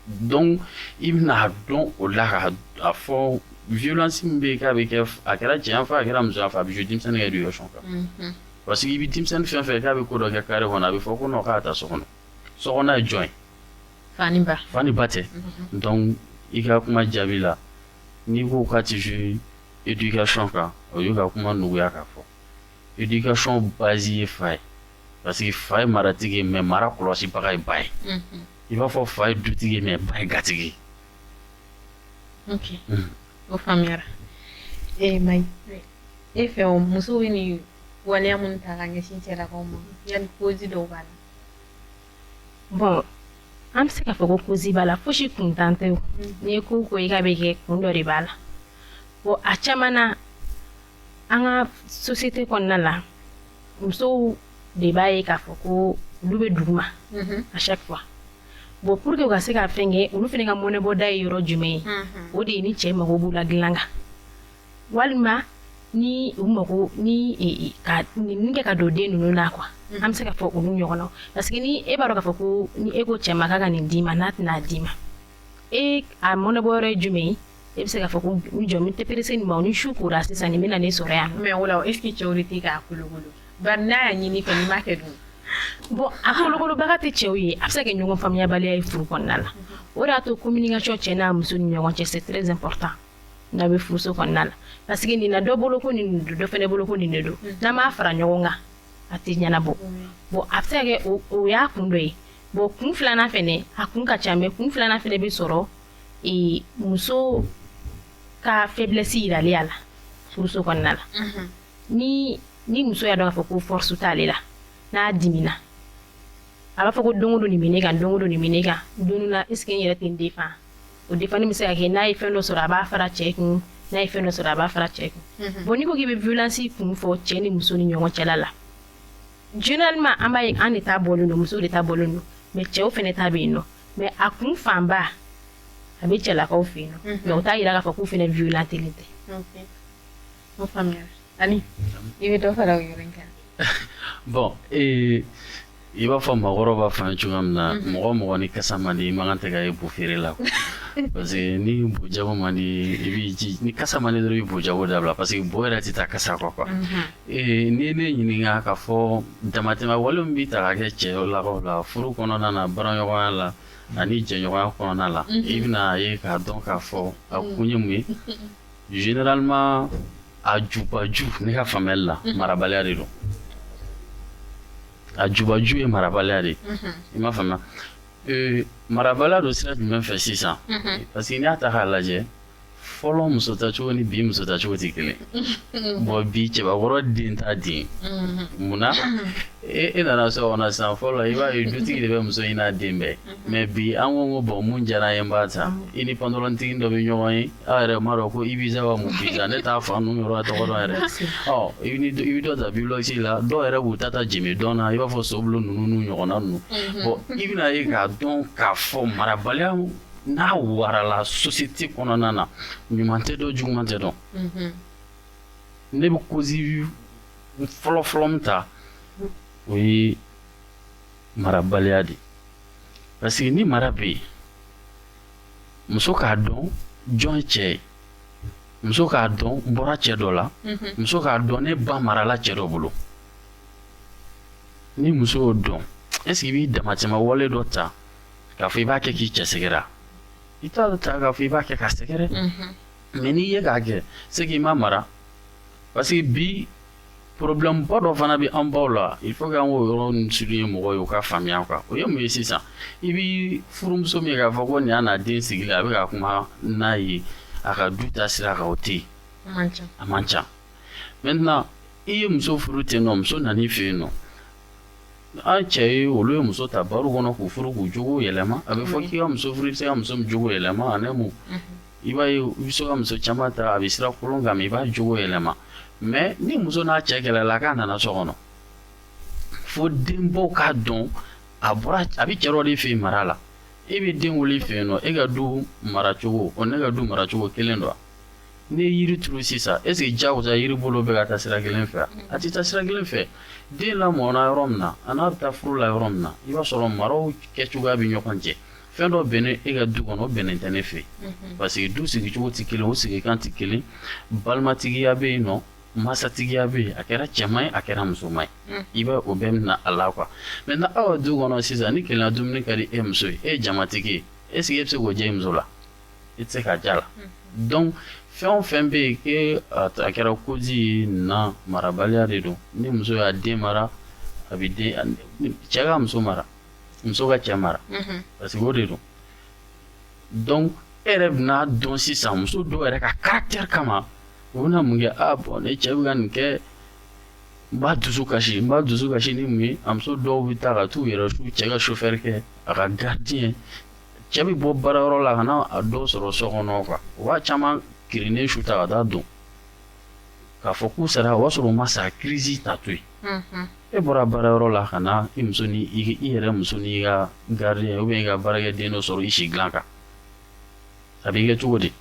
donc i bɛna dɔn o la k'a fɔ violence min bɛ yen k'a bɛ kɛ a kɛra cɛ yan fɛ a kɛra muso yan fɛ a bɛ jouer denmisɛnnin ka éducation kan parce que i bɛ denmisɛnnin fɛn fɛn k'a bɛ ko dɔ kɛ carré kɔnɔ a bɛ fɔ ko non k'a ta so kɔnɔ so kɔnɔ ye jɔn ye fa ni ba tɛ donc i ka kuma jaabi la n'i ko k'a tɛ jouer éducation kan o y'i ka kuma nɔgɔya k'a fɔ éducation base ye fa ye parce que fa ye maratigi ye mais mara kɔlɔsibaga ye ba ye i b'a fɔ fa ye dutigi ye mais ba ye gatigi ye o faamuyara e Mai e fɛ muso bɛ nin waleya minnu ta ka ɲɛsin cɛlakaw ma yan cause dɔw b'a la bon an bɛ se k'a fɔ ko cause b'a la fosi kuntan tɛ n'i ye ko o ko ye k'a bɛ kɛ kun dɔ de b'a la bon a caman na an ka société kɔnɔna la musow de b'a ye k'a fɔ ko olu bɛ duguma à chaque fois bon pour que u ka se ka fɛn kɛ olu fana ka mɔnɛbɔda ye yɔrɔ jumɛn ye o de ye ni cɛ mago b'u la dilan kan walima ni u mago ni e, e, ka nin kɛ ka don den ninnu na quoi mm-hmm. an bɛ se ka fɔ olu ɲɔgɔn na parce que ni e b'a dɔn k'a fɔ ko ni e ko cɛ ma k'a ka nin d'i ma n'a tɛna d'i ma e a mɔnɛbɔ yɔrɔ ye jumɛn ye e bɛ se k'a fɔ ko n jɔ n tɛ pressé nin ma ni su kora sisan nin bɛna ne sɔrɔ yan mais o la o est ce que cɛw de tɛ k'a kolokolo bari n'a y'a ɲini i fɛ n'i m'a kɛ dun bon a kolokolobaga tɛ cɛw ye a bɛ se ka kɛ ɲɔgɔn faamuyabaliya ye furu kɔnɔna la mm-hmm. o de y'a to communication cɛ n'a muso ni ɲɔgɔn cɛ c'est très important n'a bɛ furuso kɔnɔna la parce que nin na dɔ bolo ko nin don dɔ fana bolo ko nin de don mm. n'an m'a fara ɲɔgɔn kan a tɛ ɲɛnabɔ mm. bon a bɛ se ka kɛ o y'a kun dɔ ye bon kun filanan fana a kun ka ca mais kun filanan fana bɛ sɔrɔ e, muso ka faiblesse yirali a la furuso kɔnɔna la mm-hmm. ni ni muso y'a dɔn k'a fɔ ko force t'ale la n'a dimina a b'a fɔ ko don o don nin bɛ ne kan don o don nin bɛ ne kan don dɔ la est ce que n yɛrɛ tɛ n défend o défend bɛ se ka kɛ n'a ye fɛn dɔ sɔrɔ a b'a fara cɛ kun n'a ye fɛn dɔ sɔrɔ a b'a fara cɛ kun bon n'i ko k'i bɛ violence kun fɔ cɛ ni muso ni ɲɔgɔn cɛla la généralement an b'a ye an de ta bɔlen don muso de ta bɔlen don mais cɛw fana ta bɛ yen nɔ mais a kun fanba a bɛ cɛlakaw fɛ yen nɔ mais o t'a yira k'a fɔ k'u fana violent tɛ. Ani i bɛ dɔ fara yɔrɔ in kan bon ee i b'a fɔ mɔgɔkɔrɔbaw b'a fɔ an ye cogoya min na mɔgɔ mɔgɔ ni kasa man di i man kan tɛ ka ye bo feere la parce que ni bojago man di i bɛ ni kasa man di dɔrɔn i bojago dabila parce que bo yɛrɛ tɛ taa kasa kɔ quoi ee n'i ne ɲininka k'a fɔ damatɛmɛ wale bɛ ta k'a kɛ cɛlakaw la furu kɔnɔna na baaraɲɔgɔnya la ani jɛɲɔgɔnya kɔnɔna la i bɛna ye k'a dɔn k'a fɔ a kun ye mun ye Généralement a jubaju ne ka faamuya la marabaliya de don a jubaju ye marabaliya de i m'a faamuya marabaliya don sira jumɛn fɛ sisan parce que n'i y'a ta k'a lajɛ fɔlɔ muso tacogo ni bi muso tacogo tɛ kelen bon bi cɛbakɔrɔ den t'a den munna e e nana so kɔnɔ sisan fɔlɔ i b'a ye dutigi de bɛ muso ɲini a den bɛɛ mais bi an ko ko bon min diyara n ye n b'a ta i ni pantalontigi dɔ bɛ ɲɔgɔn ye aw yɛrɛ m'a dɔn ko Ibiza wa mun Ibiza ne t'a fa ninnu yɔrɔ tɔgɔ dɔn yɛrɛ i bɛ dɔ ta Byblos la dɔw yɛrɛ b'u ta jenbe dɔn na i b'a fɔ sobolo ninnu n'u ɲɔgɔnna ninnu bon i bɛna ye k'a dɔn k'a fɔ marabaliya n'a warala société kɔnɔna na ɲuman tɛ dɔn juguman tɛ dɔn ne bɛ cause fɔlɔ min ta o ye marabaliya de parce que ni mara bɛ yen muso k'a dɔn jɔn ye cɛ ye muso k'a dɔn n bɔra cɛ dɔ la mhm. muso k'a dɔn ne ba marala cɛ dɔ bolo ni muso y'o dɔn est ce que i b'i damatɛmɛ wale dɔ ta k'a fɔ i b'a kɛ k'i cɛ sɛgɛrɛ i t'a dɔ ta k'a fɔ i b'a kɛ k'a sɛgɛrɛ mhm. mais n'i ye k'a kɛ c'est que i ma mara parce que bi problèmeba dɔ fana bɛ an baw la il faut que an k'o yɔrɔ in souligner mɔgɔw ye u k'a faamuya quoi o ye mun ye sisan i bɛ furumuso min ye k'a fɔ ko nin y'a n'a den sigilen a bɛ ka kuma n'a ye a ka du ta sira kan o tɛ yen a man ca maintenant i ye muso furu ten nɔ muso nan'i fɛ yen nɔ an cɛ joli ye muso ta bar kɔnɔ k'u furu k'u jogo yɛlɛma a bɛ fɔ k'i ka muso furu i bɛ se ka muso min jogo yɛlɛma ani mun i b'a ye i bɛ se ka muso caman ta a bɛ sira kolon kan mais i b'a jogo yɛlɛma mais ni muso n'a cɛ kɛlɛla k'a nana so kɔnɔ fo denbaw k'a dɔn a bɔra a bɛ cɛ dɔ de fɛ yen mara la e bɛ den wolo i fɛ yen nɔ e ka du maracogo o ni ne ka du maracogo kelen don n'i ye yiri turu sisan est ce que diyagoya yiri bolo bɛ ka taa sira kelen fɛ a tɛ taa sira kelen fɛ den lamɔna yɔrɔ min na a n'a bɛ taa furu la yɔrɔ min na i b'a sɔrɔ maraw kɛcogoya bɛ ɲɔgɔn cɛ fɛn dɔ bɛnnen e ka du kɔnɔ o bɛnnen tɛ ne fɛ parce que du sigicogo tɛ kelen o sigi kan tɛ kelen balimatigiya bɛ yen nɔ masatigiya bɛ yen a kɛra cɛman ye a kɛra musoman ye i bɛ o bɛɛ minɛ a la quoi maintenant aw ka du kɔnɔ sisan ni kelenna dumuni ka di e muso ye e ye jamatigi ye est-ce que e bɛ se k'o diya i muso la i tɛ se k'a diya la donc fɛn o fɛn bɛ yen que a kɛra cause ye na marabaliya de don ni muso y'a den mara a bɛ den cɛ ka muso mara muso ka cɛ mara parce que o de don donc e yɛrɛ bɛna a dɔn sisan muso dɔw yɛrɛ ka caractère kama u bɛna mun kɛ a bon ne cɛ bɛ ka nin kɛ n b'a dusu kasi n b'a dusu kasi ni mun ye a muso dɔw bɛ taa ka t'u yɛrɛ su cɛ ka chauffeur kɛ a ka gardien cɛ bɛ bɔ baara yɔrɔ la ka na a dɔw sɔrɔ so kɔnɔ quoi u b'a caman kirinnen su ta ka taa don k'a fɔ k'u sara o y'a sɔrɔ u ma sa crise ta to yen, unhun, e bɔra baara yɔrɔ la ka na i muso ni i yɛrɛ muso n'i ka gardien ou bien i ka baarakɛden dɔ sɔrɔ i si dilan kan a b'i kɛ cogo di?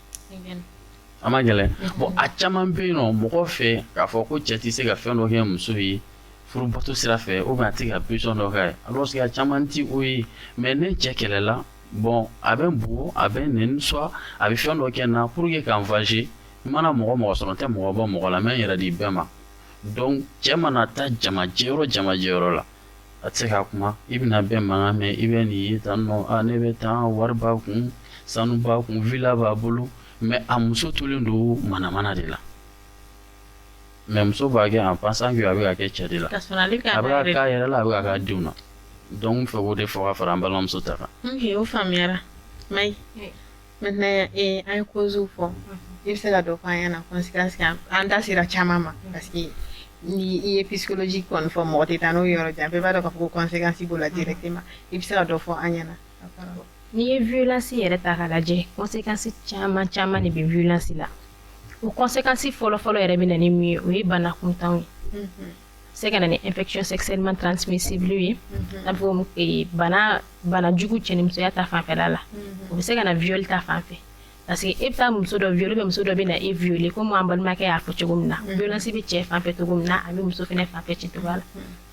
A ma gɛlɛn bon a caman bɛ yen nɔ mɔgɔ fɛ k'a fɔ ko cɛ tɛ se ka fɛn dɔ kɛ muso ye furubato sira fɛ ou bien a tɛ ka besoin dɔ k'a ye alors que a caman tɛ o ye mais ne cɛ kɛlɛla bon a bɛ n bugɔ a bɛ n nɛni soit a bɛ fɛn dɔ kɛ n na pour que ka n venger n mana mɔgɔ mɔgɔ sɔrɔ n tɛ mɔgɔ bɔ mɔgɔ la n bɛ n yɛrɛ di bɛɛ ma donc cɛ mana taa jamajɛ yɔrɔ jamajɛ yɔrɔ la a tɛ se ka kuma i bɛna bɛɛ mankan mɛn i bɛ nin ye tan nɔ a ne bɛ tan wari b'a kun sanu b'a kun villa b'a bolo mais a muso tolen don manamana de la mais muso b'a kɛ en pensant que a bɛ k'a kɛ cɛ de la Ka sɔrɔ ale ka a bɛ ka k'a yɛrɛ la a bɛ ka k'a denw na donc n fɛ k'o de fɔ ka fara an balimamuso ta kan Ok, o faamuyara. Mai. Maintenant ee an ye cause fɔ i bɛ se ka dɔ fɔ an ɲɛna conséquence kan an da sera caman ma parce que ni i ye psychologie kɔni fɔ mɔgɔ tɛ taa n'o ye yɔrɔ jan bɛɛ b'a dɔn k'a fɔ ko conséquence b'o la directement i bɛ se ka dɔ fɔ an ɲɛna n'i ye violence yɛrɛ ta k'a lajɛ conséquence caman caman de bɛ violence la o conséquence fɔlɔ fɔlɔ yɛrɛ bɛ na ni min ye o ye bana kuntanw ye. se ka na ni infection sexuellement transmissible ye mhm. n'a fɔ eh, bana bana jugu cɛnimusoya ta fanfɛla la mhm. o bɛ se ka na viol ta fanfɛ parce que e bɛ taa muso dɔ viole muso dɔ bɛ na e viole komi an balimakɛ y'a fɔ cogo min na mhm. violence bɛ cɛ fanfɛ cogo min na a bɛ muso fana fanfɛ ten cogo la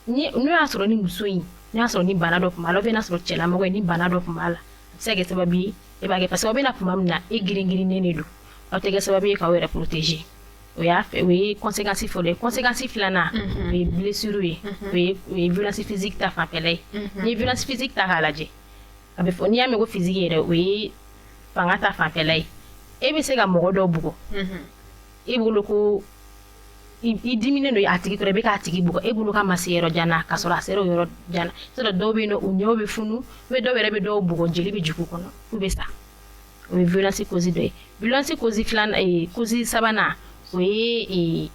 ni n'o y'a sɔrɔ ni muso in n'o y'a sɔrɔ ni bana dɔ tun b'a la n'a sɔrɔ cɛlamɔgɔ ye ni bana dɔ tun b'a la a bɛ se ka kɛ sababu ye e b'a kɛ parce que aw bɛna tuma min na e girin girinnen de don aw tɛ kɛ sababu ye k'aw yɛrɛ protéger o y'a fɛ o ye conséquence fɔlɔ ye conséquence filanan o ye blessure ye o ye violence physique ta fanfɛla ye n'i ye violence physique ta k'a lajɛ a bɛ fɔ n'i y'a mɛn ko physique yɛrɛ o ye fanga ta fanfɛla ye e bɛ se ka mɔgɔ dɔ bugɔ e bolo ko i diminen don a tigi kɔrɔ i bɛ k'a tigi bugɔ e bolo k'a ma se yɔrɔ jan na k'a sɔrɔ a sera yɔrɔ jan na c'est-à-dire dɔw bɛ yen u ɲɛ bɛ funu bɛ dɔw yɛrɛ bɛ dɔw bugɔ jeli bɛ jigin u kɔnɔ f'u bɛ sa o ye violence cause dɔ ye violence cause filanan ee cause sabanan o ye ee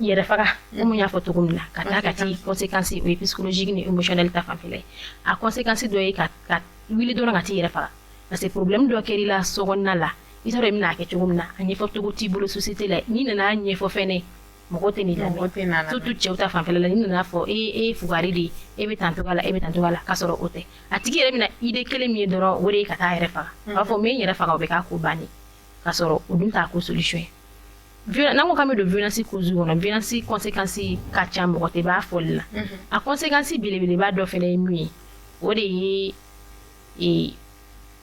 yɛrɛ faga komi n y'a fɔ cogo min na ka taa ka ti conséquence o ye psychologique ni émotionnel ta fanfɛla ye a conséquence dɔ ye ka ka wuli dɔrɔn ka t'i yɛrɛ faga parce que problème dɔ kɛr'i la sokɔnɔna la i t'a dɔn i bɛna a kɛ cogo min na a ɲɛfɔ cogo t'i bolo société la n'i nana a ɲɛfɔ fɛnɛ mɔgɔ tɛ n'i lamɛn mɔgɔ tɛ na lamɛn. surtout cɛw ta fanfɛla la n'i nana fɔ e e ye fugari de ye e bɛ tan cogoya la e bɛ tan cogoya la k'a sɔrɔ o tɛ a tigi yɛrɛ bɛna idée kelen min ye dɔrɔn o de ye ka taa a yɛrɛ faga a b'a fɔ n bɛ n yɛrɛ faga o bɛ k'a ko bannen k'a sɔrɔ o dun t'a ko solution ye Viola- n'an ko k'an bɛ don violence cause kɔnɔ violence conséquence ka ca mɔgɔ tɛ b'a fɔli la a conséquence belebeleba dɔ fana ye min ye o de ye ee,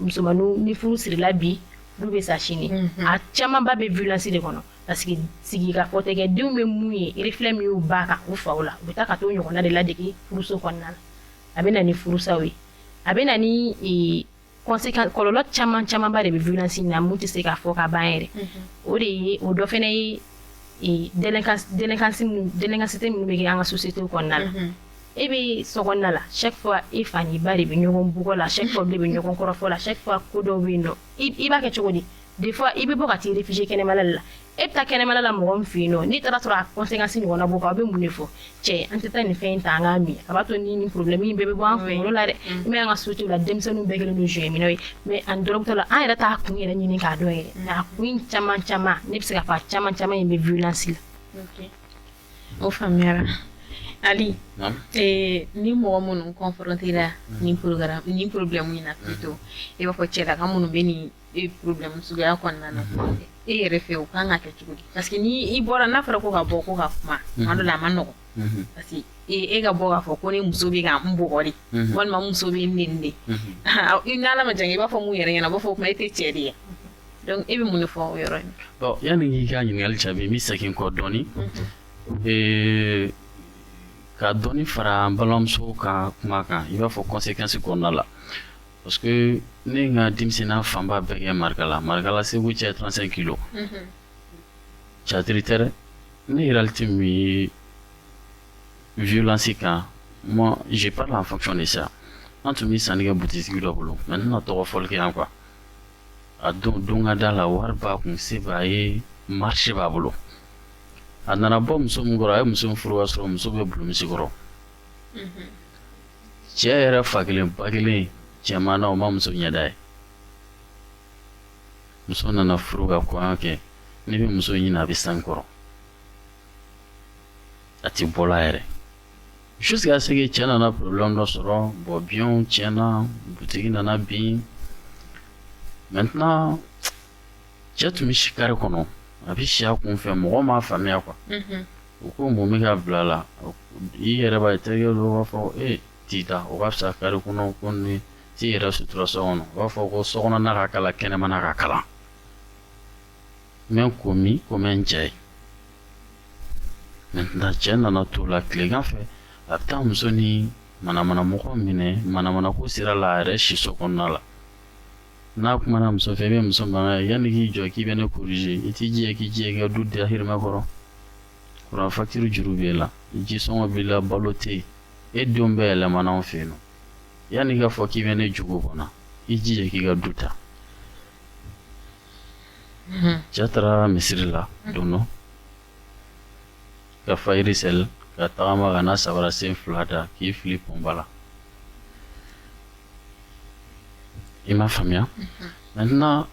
musomaninw ni furu sirila bi olu bɛ sa sini mhm. a camanba bɛ violence de kɔnɔ parce que sigi ka fɔ tɛ kɛ denw bɛ mun ye reflet min y'u ba ka u faw la u bɛ taa ka t'o ɲɔgɔnna de ladege furuso kɔnɔna na a bɛ na ni furusaw ye a bɛ na ni e, conséquence kɔlɔlɔ caman camanba de bɛ violence in na min tɛ se ka fɔ ka ban yɛrɛ mhm. o de ye o dɔ fana ye e, délinquance délinquance délinquance minnu bɛ kɛ an ka société kɔnɔna na mhm. e bɛ sokɔnɔna la chaque fois i fa ni ba de bɛ ɲɔgɔn bugɔ la chaque fois de bɛ ɲɔgɔn kɔrɔfɔ la chaque fois ko dɔ bɛ yen nɔ i b'a kɛ cogo di des fois i bɛ bɔ ka taa i réfugier kɛnɛmala la e bɛ taa kɛnɛmala la mɔgɔ min fɛ yen n'i taara sɔrɔ a conséquence ɲɔgɔnna b'o kan a bɛ mun de fɔ cɛ an tɛ taa nin fɛn in ta an k'a min a b'a to ni problème in bɛɛ bɛ bɔ an kunkolo la dɛ mm. i bɛ an ka société la denmisɛnninw bɛɛ kɛlen don joint minnaw ye mais à notre tour là an yɛrɛ t'a kun yɛrɛ ɲini k'a dɔn yɛrɛ a kun caman caman ne bɛ se ka fɔ a caman caman in bɛ violence la O faamuyara ali ni mɔgɔ minnu confronté la ni problème in na plutôt i b'a fɔ cɛlaka minnu bɛ nin problème suguya kɔnɔna na e yɛrɛ fɛ u kan ka kɛ cogo di parce que n'i bɔra n'a fɔra ko ka bɔ ko ka kuma tuma dɔ la a man nɔgɔ parce que e ka bɔ k'a fɔ ko ne muso bɛ ka n bugɔ de walima muso bɛ n neni de i' ma jan i b'a fɔ mun yɛrɛ ɲɛna u b'a fɔ o tuma e tɛ cɛ de ye donc e bɛ mun de fɔ o yɔrɔ in bon yanni k'i ka ɲininkali jaabi n bɛ segin kɔ dɔɔnin ee ka dɔɔnin fara an balimamuso ka kuma kan i b'a fɔ conséquence kɔnɔna la parce que ne n ka denmisɛnninya fanba bɛɛ kɛ Marikala Marikala Segu cɛ trente-cinq kilo catiri tɛ ne réalité min ye violence kan moi je parle en fonction de ça an tun bɛ sanni kɛ butigi dɔ bolo mais ne tɛna tɔgɔ fɔli kɛ yan quoi a don don ka da la wari b'a kun se b'a ye marché b'a bolo a nana bɔ muso min kɔrɔ a ye muso nin furu ka sɔrɔ muso bɛ bulumisi kɔrɔ mhm. cɛ yɛrɛ fa kelen ba kelen cɛman na o ma muso ɲɛda ye muso nana furu ka kɔɲɔ kɛ n'i bɛ muso ɲini a bɛ san kɔrɔ a tɛ bɔla yɛrɛ jusqu'à ce que cɛ nana problème dɔ sɔrɔ bon biyɛnw tiɲɛna butigi nana bin maintenant cɛ tun bɛ si kare kɔnɔ a bɛ si a kun fɛ mɔgɔ m'a faamuya quoi u ko mun bɛ ka bila la i yɛrɛ b'a ye terikɛ dɔw b'a fɔ e t'i da o ka fisa kare kɔnɔ ko ni t'i yɛrɛ sutura so kɔnɔ u b'a fɔ ko sokɔnɔna ka kalan kɛnɛmana ka kalan n bɛ n ko min ko n bɛ n cɛ ye maintenant cɛ nana t'o la tilegan fɛ a bɛ taa muso ni manamanamɔgɔ minɛ manamanako sira la a yɛrɛ siso kɔnɔna la n'a kumana muso fɛ i bɛ muso mankan ye yanni k'i jɔ k'i bɛ ne corriger i t'i jija k'i ka du dahirimɛ kɔrɔ kuran facture juru b'e la ji sɔngɔ b'i la balo tɛ yen e denw bɛɛ yɛlɛmana anw fɛ yen nɔ yanni i k'a fɔ k'i bɛ ne jogo kɔnɔ i jija k'i ka du ta cɛ taara misiri la don dɔ ka fajiri seli ka tagama ka na sabara sen fila da k'i fili pɔnba la i m'a faamuya maintenant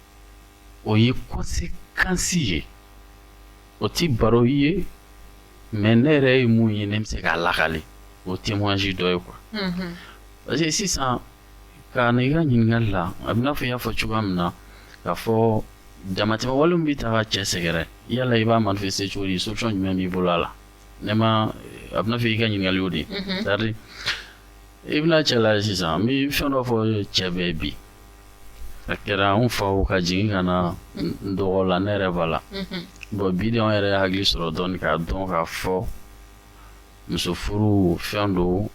o ye conséquence ye o ti baro ye mais ne yɛrɛ ye mun ye ne bɛ se k'a lakale o témoignage dɔ ye quoi parce que sisan Ka na i ka ɲininkali la a bɛ n'a fɔ i y'a fɔ cogoya min na k'a fɔ damatɛmɛ wale min bɛ taa ka cɛ sɛgɛrɛ yala i b'a manifester cogo di solution jumɛn b'i bolo a la ne ma a bɛ n'a fɔ i ka ɲininkali y'o de ye c'est à dire i bɛna cɛ lajɛ sisan n bɛ fɛn dɔ fɔ cɛ bɛɛ ye bi a kɛra anw faw ka jigin ka na n dɔgɔ la ne yɛrɛ b'a la bon bi de anw yɛrɛ ye hakili sɔrɔ dɔɔnin k'a dɔn k'a fɔ muso furu fɛn don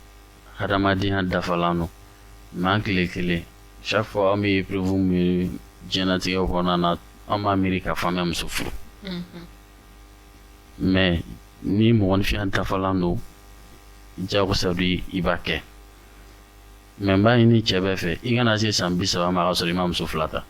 hadamadenya dafalan don mais an kelen kelen chaque fois an bɛ épreuve min ye diɲɛnatigɛ kɔnɔna na an b'a miiri k'a fɔ an bɛ muso furu mm-hmm. mais ni mɔgɔninfinya dafalan don jagosa don i b'a kɛ mais n b'a ɲini cɛ bɛɛ fɛ i kana se san bi saba ma ka sɔrɔ i ma muso fila ta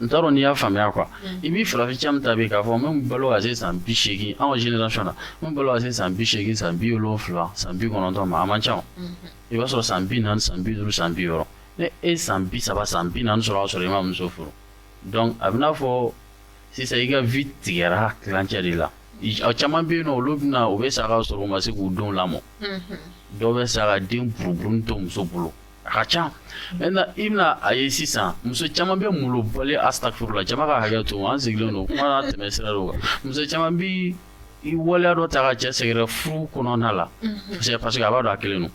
n t'a dɔn n'i y'a faamuya quoi i bɛ farafin caman ta k'a fɔ min balo ka se san bi seegin anw génération na min balo ka se san bi seegin san bi wolon wolonwula san bi kɔnɔntɔn ma a man ca i b'a sɔrɔ san bi naani san bi duuru san bi wɔɔrɔ ni e san bi saba san bi naani sɔrɔ ka sɔrɔ i ma muso furu donc a bɛ n'a fɔ sisan i ka vie tigɛra tilancɛ de la caman bɛ yen nɔn olu bɛna u bɛ sa ka sɔrɔ u ma se k'u denw lamɔ dɔw bɛ sa ka den buruburu to muso bolo A ka ca maintenant i bɛna a ye sisan muso caman bɛ malobali astaghfirullah jama ka hakɛ to an sigilen don kuma na tɛmɛ sira dɔ kan muso caman bɛ i waleya dɔ ta ka cɛ sɛgɛrɛ furu kɔnɔna la parce que a b'a dɔn a kelen don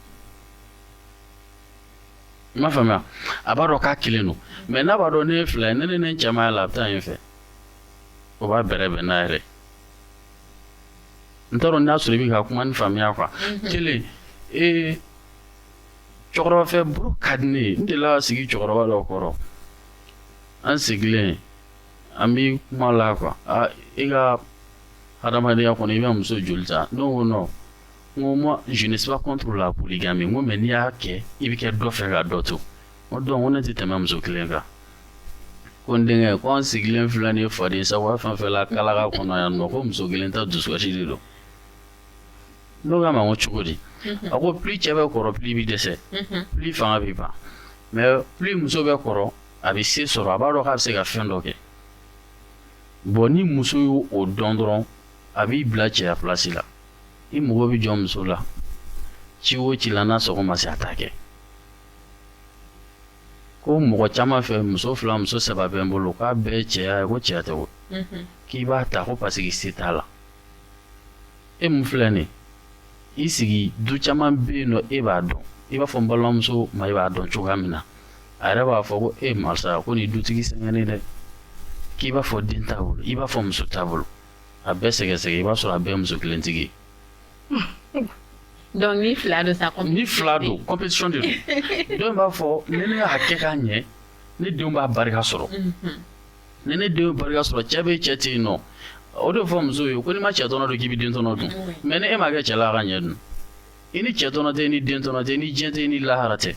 i m'a faamuya a b'a dɔn k'a kelen don mais n'a b'a dɔn ne ye fila ye ne ni ne cɛya la a bɛ taa yen fɛ o b'a bɛrɛ bɛn n'a yɛrɛ n t'a dɔn n'a sɔrɔ i bɛ ka kuma nin faamuya quoi kelen ee cɛkɔrɔba fɛ baro ka di ne ye n delila ka sigi cɛkɔrɔba dɔ kɔrɔ an sigilen an bɛ kuma la quoi aa e ka hadamadenya kɔnɔ i bɛ muso joli ta ne ko non n ko moi je ne suis pas contre la polygamie n ko mais n'i y'a kɛ i bɛ kɛ dɔ fɛ ka dɔ to n ko donc ko ne tɛ tɛmɛ muso kelen kan ko n denkɛ ko an sigilen filɛ nin ye faden sago fɛn fɛn la kalaka kɔnɔ yan nɔ ko muso kelen ta dusukasi de don ne ko a ma n ko cogo di a ko plus cɛ bɛ kɔrɔ plus i bɛ dɛsɛ plus fanga bɛ ban mais plus muso bɛ kɔrɔ a bɛ se sɔrɔ a b'a dɔn k'a bɛ se ka fɛn dɔ kɛ bon ni muso y'o dɔn dɔrɔn a b'i bila cɛya place la i mago bɛ jɔ muso la ci o ci la n'a sago ma se a t'a kɛ ko mɔgɔ caman fɛ muso fila muso saba bɛ n bolo k'a bɛɛ ye cɛya ye ko cɛya tɛ wo k'i b'a ta ko parce que se t'a la e mun filɛ nin i sigi du caman bɛ yen nɔ e b'a dɔn i b'a fɔ n balimamuso ma i b'a dɔn cogoya min na a yɛrɛ b'a fɔ ko e Marisa ko nin dutigi sɛgɛnnen dɛ k'i b'a fɔ den t'a bolo i b'a fɔ muso t'a bolo a bɛɛ sɛgɛsɛgɛ i b'a sɔrɔ a bɛɛ muso kelentigi donc ni fila don sa ni fila don compétition de don dɔw b'a fɔ ni ne y'a kɛ k'a ɲɛ ne denw b'a barika sɔrɔ mhm. ni ne denw barika sɔrɔ cɛ bɛ cɛ tɛ yen nɔ o de fɔ muso ye ko n'i ma cɛ tɔnɔ dun k'i bɛ den tɔnɔ dun mais ni e ma kɛ cɛ la ka ɲɛ dun i ni cɛ tɔnɔ tɛ i ni den tɔnɔ tɛ i ni diɲɛ tɛ i ni lahara tɛ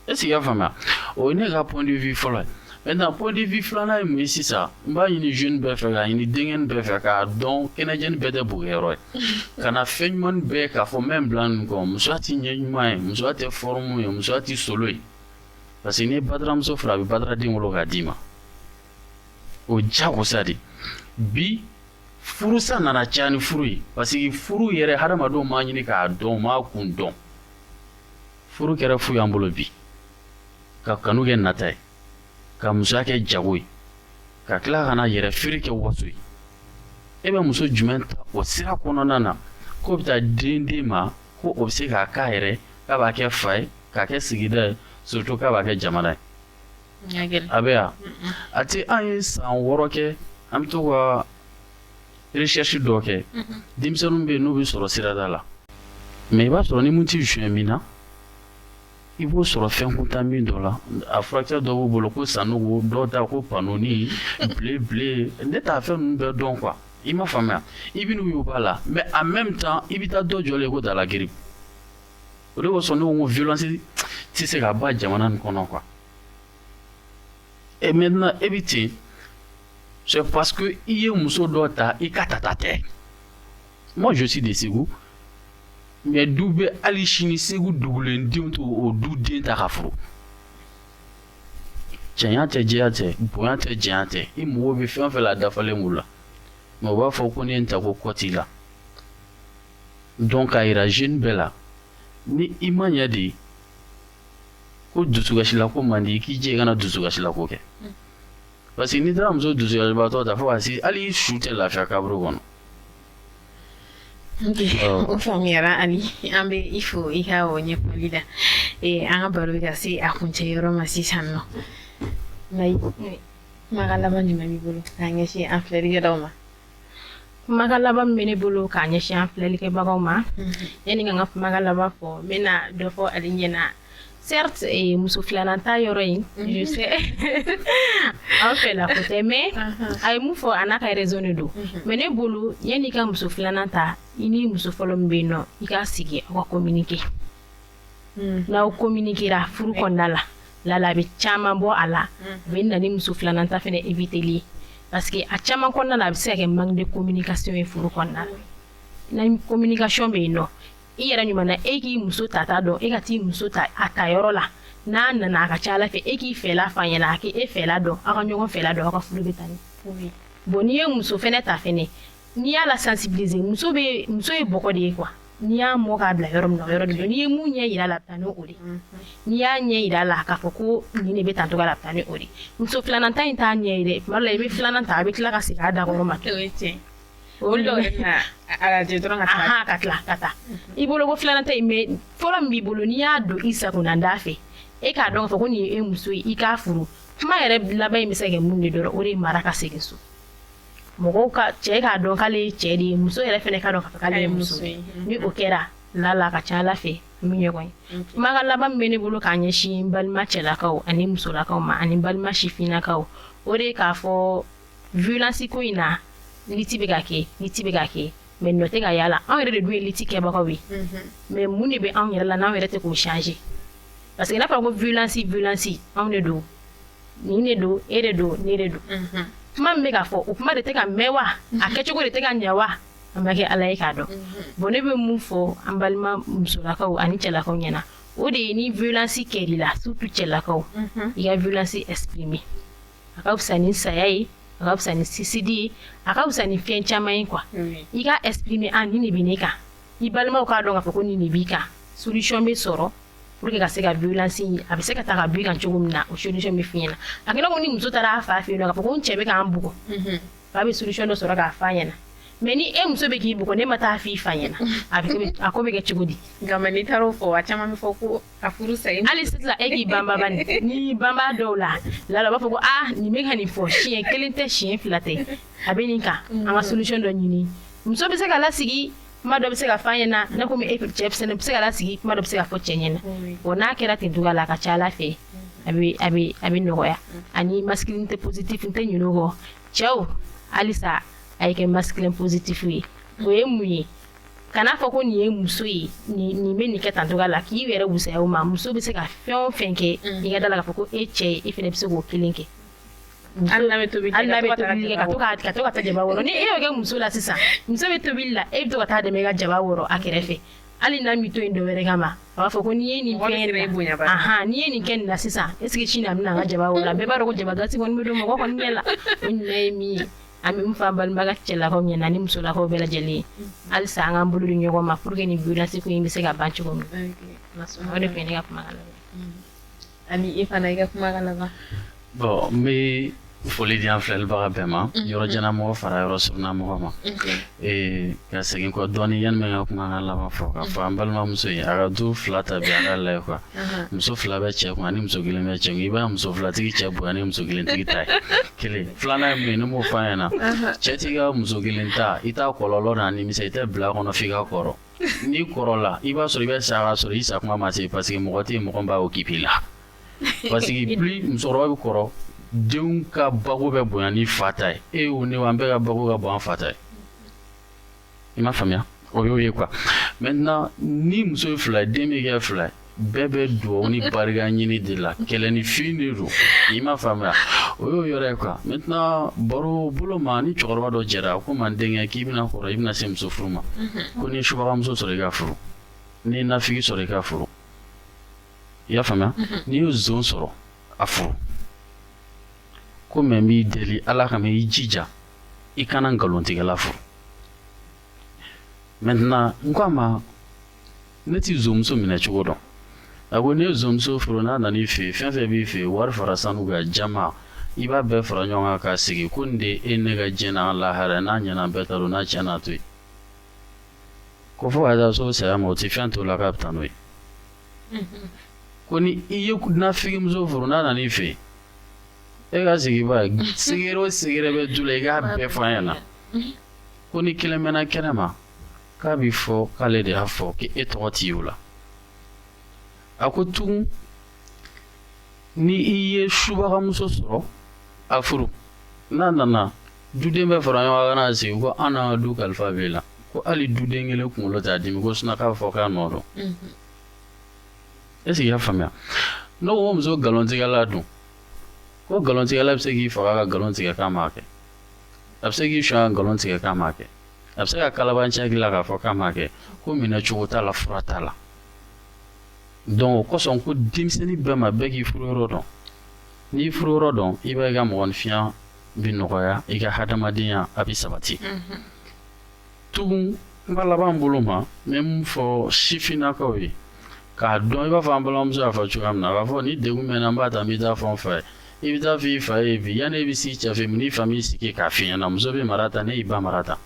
est-ce que i y'a faamuya o ye ne ka point de vue fɔlɔ ye maintenant point de vue filanan ye mun ye sisan n b'a ɲini jeune bɛɛ fɛ k'a ɲini denkɛni bɛɛ fɛ k'a dɔn kɛnɛjɛni bɛɛ tɛ bokɛyɔrɔ ye kana fɛn ɲuman bɛɛ k'a fɔ n bɛ n bila nin kɔ musoya tɛ ɲɛ ɲuman ye musoya tɛ forme ye musoya tɛ solo ye parce que n'i ye bataramuso furu a bɛ bataraden wolo k'a d'i ma o de kosɔn de bi furusa nana caya ni furu ye parce que furu yɛrɛ hadamadenw m'a ɲini k'a dɔn m'a kun dɔn furu kɛra fu y'an bolo bi ka kanu kɛ nata ye ka musoya kɛ jago ye ka tila ka na yɛrɛfeere kɛ waso ye e bɛ muso jumɛn ta o sira kɔnɔna na k'o bɛ taa den d'i ma ko o bɛ se k'a k'a yɛrɛ k'a b'a kɛ fa ye k'a kɛ sigida ye surtout k'a b'a kɛ jamana ye. Ɲɛ gɛlɛ. A bɛ yan. A tɛ an ye san wɔɔrɔ kɛ an bɛ to ka recherche dɔ kɛ. Unhun. Denmisɛnninw bɛ yen n'u bɛ sɔrɔ sirada la mais i b'a sɔrɔ ni minnu tɛ jouer min na i b'o sɔrɔ fɛnkuntan min dɔ la a furakisɛ dɔ b'u bolo ko san nugu dɔw ta ko panɔni bilen bilen ne t'a fɛn ninnu bɛɛ dɔn quoi i ma faamuya i bɛ n'u y'u b'a la mais en même temps i bɛ taa dɔ jɔlen ko dala giri o de kosɔn ne ko violence tɛ se ka ban jamana nin kɔnɔ quoi et maintenant e bɛ ten c'est parce que i ye muso dɔ ta i ka tata tɛ moi je suis de Segu mais du bɛ hali sini segu dugulen denw t'o o du den ta ka furu cɛɲa tɛ jɛya tɛ bonya tɛ janya tɛ i mago bɛ fɛn fɛn la dafalen b'u la mais u b'a fɔ ko ne ye n ta ko kɔ t'i la donc k'a yira jeune bɛɛ la ni i ma ɲɛ de ko dusukasilako man di k'i jɛ i kana dusukasilako kɛ parce que n'i taara muso dusukasibaatɔ ta fo ka se hali i su tɛ lafiya kaburu kɔnɔ o faamuyara ani an bɛ i fo i ka o ɲɛfɔli la an ka baro bɛ ka se a kuncɛ yɔrɔ ma sisan nɔ kumakan laban jumɛn b'i bolo k'a ɲɛsin an filɛlikɛlaw ma kumakan laban min bɛ ne bolo k'a ɲɛsin an filɛlikɛbagaw ma yanni ka n ka kumakan laban fɔ n bɛna dɔ fɔ ale ɲɛna Certes, et muso filanan ta yɔrɔ in mhm. je sais an fɛ la ko tɛ mais a ye mun fɔ a n'a ka raison de don mhm. mais ne bolo yanni i ka muso filanan ta i ni muso fɔlɔ min bɛ yen nɔ i ka sigi aw ka communiquer mhm. n'aw communiquera furu kɔnɔna la lala a bɛ caman bɔ a la a bɛ na ni muso filanan ta fɛnɛ éviteli ye parce que a caman kɔnɔna la a bɛ se ka kɛ manque de communication ye furu kɔnɔna na ni communication bɛ yen nɔ i yɛrɛ ɲuman na e k'i muso tata dɔn e ka t'i muso ta a ta yɔrɔ la n'a nana a ka ca ala fɛ e k'i fɛla f'a ɲɛna a k'e fɛla dɔn aw ka ɲɔgɔn fɛla dɔn aw ka furu bɛ taa ɲɛ bon n'i ye muso fɛnɛ ta fɛnɛ n'i y'a la sensibiliser muso muso ye bɔgɔ de ye quoi n'i y'a mɔ k'a bila yɔrɔ min na o yɔrɔ de don n'i ye mun ɲɛ jira a la a bɛ taa ni o de mm-hmm. n'i y'a ɲɛ jira a la k'a fɔ ko nin de bɛ taa tɔgɔ la a bɛ taa ni o de muso filanan ta in t'a ɲɛ ye dɛ tuma dɔ la i bɛ filanan ta a bɛ tila ka segin a dakɔrɔ ma O dɔw yɛrɛ bɛna arajo dɔrɔn ka taa. Ahan ka tila ka taa. I bolo ko filanan ta in mais fɔlɔ min b'i bolo n'i y'a don i sagona da fɛ e k'a dɔn k'a fɔ ko nin ye e muso ye i k'a furu kuma yɛrɛ laban in bɛ se ka kɛ mun ye dɔrɔn o de ye mara ka segin so. Mɔgɔw ka cɛ k'a dɔn k'ale ye cɛ de ye muso yɛrɛ fana k'a dɔn k'a fɔ k'ale ye muso ye. Ni o kɛra la la a ka ca Ala fɛ u bɛ ɲɔgɔn ye. Kumakan laban min bɛ ne bolo k'a ɲɛsin n balima cɛlakaw ani musolakaw ma ani n balima sifinnakaw o de ye k'a fɔ violence ko in na lutte bɛ ka kɛ lutte bɛ ka kɛ mais nɔ tɛ ka y'a la anw yɛrɛ de dun ye lutte kɛbagaw ye mais mun de bɛ anw yɛrɛ la n'anw yɛrɛ tɛ k'o changer parce que n'a fɔra ko violence violence anw de don nin de don e de don ne de don kuma min bɛ ka fɔ o kuma de tɛ ka mɛn wa a kɛcogo de tɛ ka ɲɛ wa an b'a kɛ ala ye k'a dɔn bon ne bɛ mun fɔ an balima musolakaw ani cɛlakaw ɲɛna o de ye ni violence kɛr'i la surtout cɛlakaw i ka violence exprimer a ka fisa ni saya ye a ka fisa ni suicide ye a ka fisa ni fɛn caman ye quoi i ka exprimer a nin de bɛ ne kan i balimaw k'a dɔn k'a fɔ ko nin de b'i kan solution bɛ sɔrɔ pour que ka se ka violence in a bɛ se ka ta ka b'i kan cogo min na o solution bɛ f'i ɲɛna a kɛra ko ni muso taara a fa fɛ yen nɔ k'a fɔ ko n cɛ bɛ ka n bugɔ fa bɛ solution dɔ sɔrɔ k'a f'a ɲɛna mais ni e muso bɛ k'i bugɔ n'e ma taa f'i fa ɲɛna a bɛ kɛ- a ko bɛ kɛ cogo di nka mais n'i taara o fɔ a caman bɛ fɔ ko a furu sa hali sisan e k'i banba bani n'i banba dɔw la lala u b'a fɔ ko ah nin bɛ ka nin fɔ siɲɛ kelen tɛ siɲɛ fila tɛ a bɛ nin kan an ka solution dɔ ɲini muso bɛ se ka lasigi kuma dɔ bɛ se ka f'a ɲɛna ne komi e cɛ fɛnɛ bɛ se ka lasigi kuma dɔ bɛ se ka fɔ cɛ ɲɛna o n'a kɛra ten cogoya la a ka ca ala fɛ a bɛ a bɛ a bɛ nɔgɔya ani masculinité positive n tɛ ɲinɛ o kɔ cɛw halisa a ye kɛ masculin positif ye o ye mun ye kana fɔ ko nin ye muso ye nin bɛ nin kɛ tan cogoya la k'i yɛrɛ wusaya o ma muso bɛ se ka fɛn o fɛn kɛ mm. i ka d'a la k'a fɔ ko e cɛ ye e fana bɛ se k'o kelen kɛ hali n'a bɛ tobili kɛ ka to ka ka to ka taa jaba wɔrɔ ni e y'o kɛ muso la sisan muso bɛ tobili la e bɛ to ka taa dɛmɛ i ka jaba wɔrɔ a kɛrɛfɛ hali n'a m'i to yen dɔwɛrɛ kama a b'a fɔ ko n'i ye nin fɛn n'i ye nin kɛ nin na sisan est-ce que sini a bɛna an ka jaba wɔrɔ la bɛɛ b'a dɔn ko jaba gasi kɔni bɛ don mɔgɔ kɔni ɲɛ la o ɲuman ye min ye an bɛ min fɔ an balimakɛ cɛlakaw ɲɛna ani musolakaw bɛɛ lajɛlen ye halisa an k'an bolo di ɲɔgɔn ma pour que nin violence ko in bɛ se ka ban cogo min o de tun ye ne ka kumakan laban ani e fana i ka kumakan laban bon n bɛ foli di an filɛlibaga bɛɛ ma yɔrɔ janna mɔgɔ fara yɔrɔ surunna mɔgɔ ma Ee ka segin kɔ dɔɔnin yanni n bɛ n ka kumakan laban fɔ k'a fɔ an balimamuso ye a ka du fila ta bi a k'a lajɛ quoi muso fila bɛ cɛ kun ni muso kelen bɛ cɛ kun i b'a muso filatigi cɛ bonya ni muso kelentigi ta ye kelen filanan ye mun ye ne b'o f'a ɲɛna cɛ t'i ka muso kelen ta i t'a kɔlɔlɔ n'a nimisa i tɛ bila a kɔnɔ f'i ka kɔrɔ n'i kɔrɔla i b'a sɔrɔ i bɛ sa ka sɔrɔ i sa kuma ma se parce que mɔgɔ tɛ yen mɔgɔ bɛ occuper i la parce que plus musokɔrɔba bɛ kɔrɔ denw ka bako bɛ bonya ni fa ta ye e yo ne wo an bɛɛ ka bako ka bon n'an fa ta ye i m'a faamuya o y'o ye quoi maintenant ni muso ye fila ye den bɛ kɛ fila ye bɛɛ bɛ dugawu ni barika ɲini de la kɛlɛ ni fin de don i m'a faamuya o y'o yɔrɔ ye quoi maintenant baro bolo ma ni cɛkɔrɔba dɔ jɛra a ko ma n denkɛ k'i bɛna kɔrɔ i bɛna se muso furu ma ko n'i ye subagamuso sɔrɔ i k'a furu n'i ye nafigi sɔrɔ i k'a furu i y'a faamuya n'i ye zon sɔrɔ a furu ko mais n b'i deli ala kama i jija i kana nkalontigɛla furu maintenant n ko a ma ne ti zonmuso minɛ cogo dɔn a ko n'i ye zonmuso furu n'a nana i fɛ fɛn fɛn b'i fɛ wari fara sanu kan jaman i b'a bɛɛ fara ɲɔgɔn kan k'a sigi ko nin de ye ne ka diɲɛ n'a lahara n'a ɲɛna bɛɛ ta don n'a tiɲɛn'a to yen ko fo ka taa se saya ma o tɛ fɛn t'o la k'a bɛ taa n'o ye ko ni i ye nafigimuso furu n'a nana i fɛ e k'a sigi ba secret o secret bɛ du la i k'a bɛɛ fɔ a ɲɛna ko ni kelen mɛnna kɛnɛ ma k'a bɛ fɔ k'ale de y'a fɔ k'e tɔgɔ tɛ ye o la a ko tugun ni i ye subagamuso sɔrɔ a furu n'a nana duden bɛɛ fara ɲɔgɔn kan n'a sigi ko an n'an ka du kalifa b'e la ko hali duden kelen kunkolo t'a dimi ko sinon k'a fɔ k'a nɔ don est ce que i y'a faamuya ne ko ko muso nkalontigɛla dun ko nkalontigɛla bɛ se k'i faga ka nkalon tigɛ k'a m'a kɛ a bɛ se k'i suɲɛ ka nkalon tigɛ k'a m'a kɛ a bɛ se ka kalabanciya k'i la k'a fɔ k'a m'a kɛ ko minɛ cogo t'a la fura t'a la donc o kosɔn ko denmisɛnnin bɛɛ ma bɛɛ k'i furuyɔrɔ dɔn n'i y'i furuyɔrɔ dɔn i b'a ye i ka mɔgɔninfinya bɛ nɔgɔya i ka hadamadenya a bɛ sabati tugun n ka laban bolo ma n bɛ min fɔ sifinnakaw ye k'a dɔn i b'a fɔ an balimamuso y'a fɔ cogoya min na a b'a fɔ ni degun bɛ n na n b'a ta n bɛ taa fɔ n fa ye i bɛ taa fɔ i fa ye bi yanni e bɛ s'i cɛ fɛ n'i fa m'i sigi k'a f'i ɲɛna muso bɛ mara tan ne y'i ba mara tan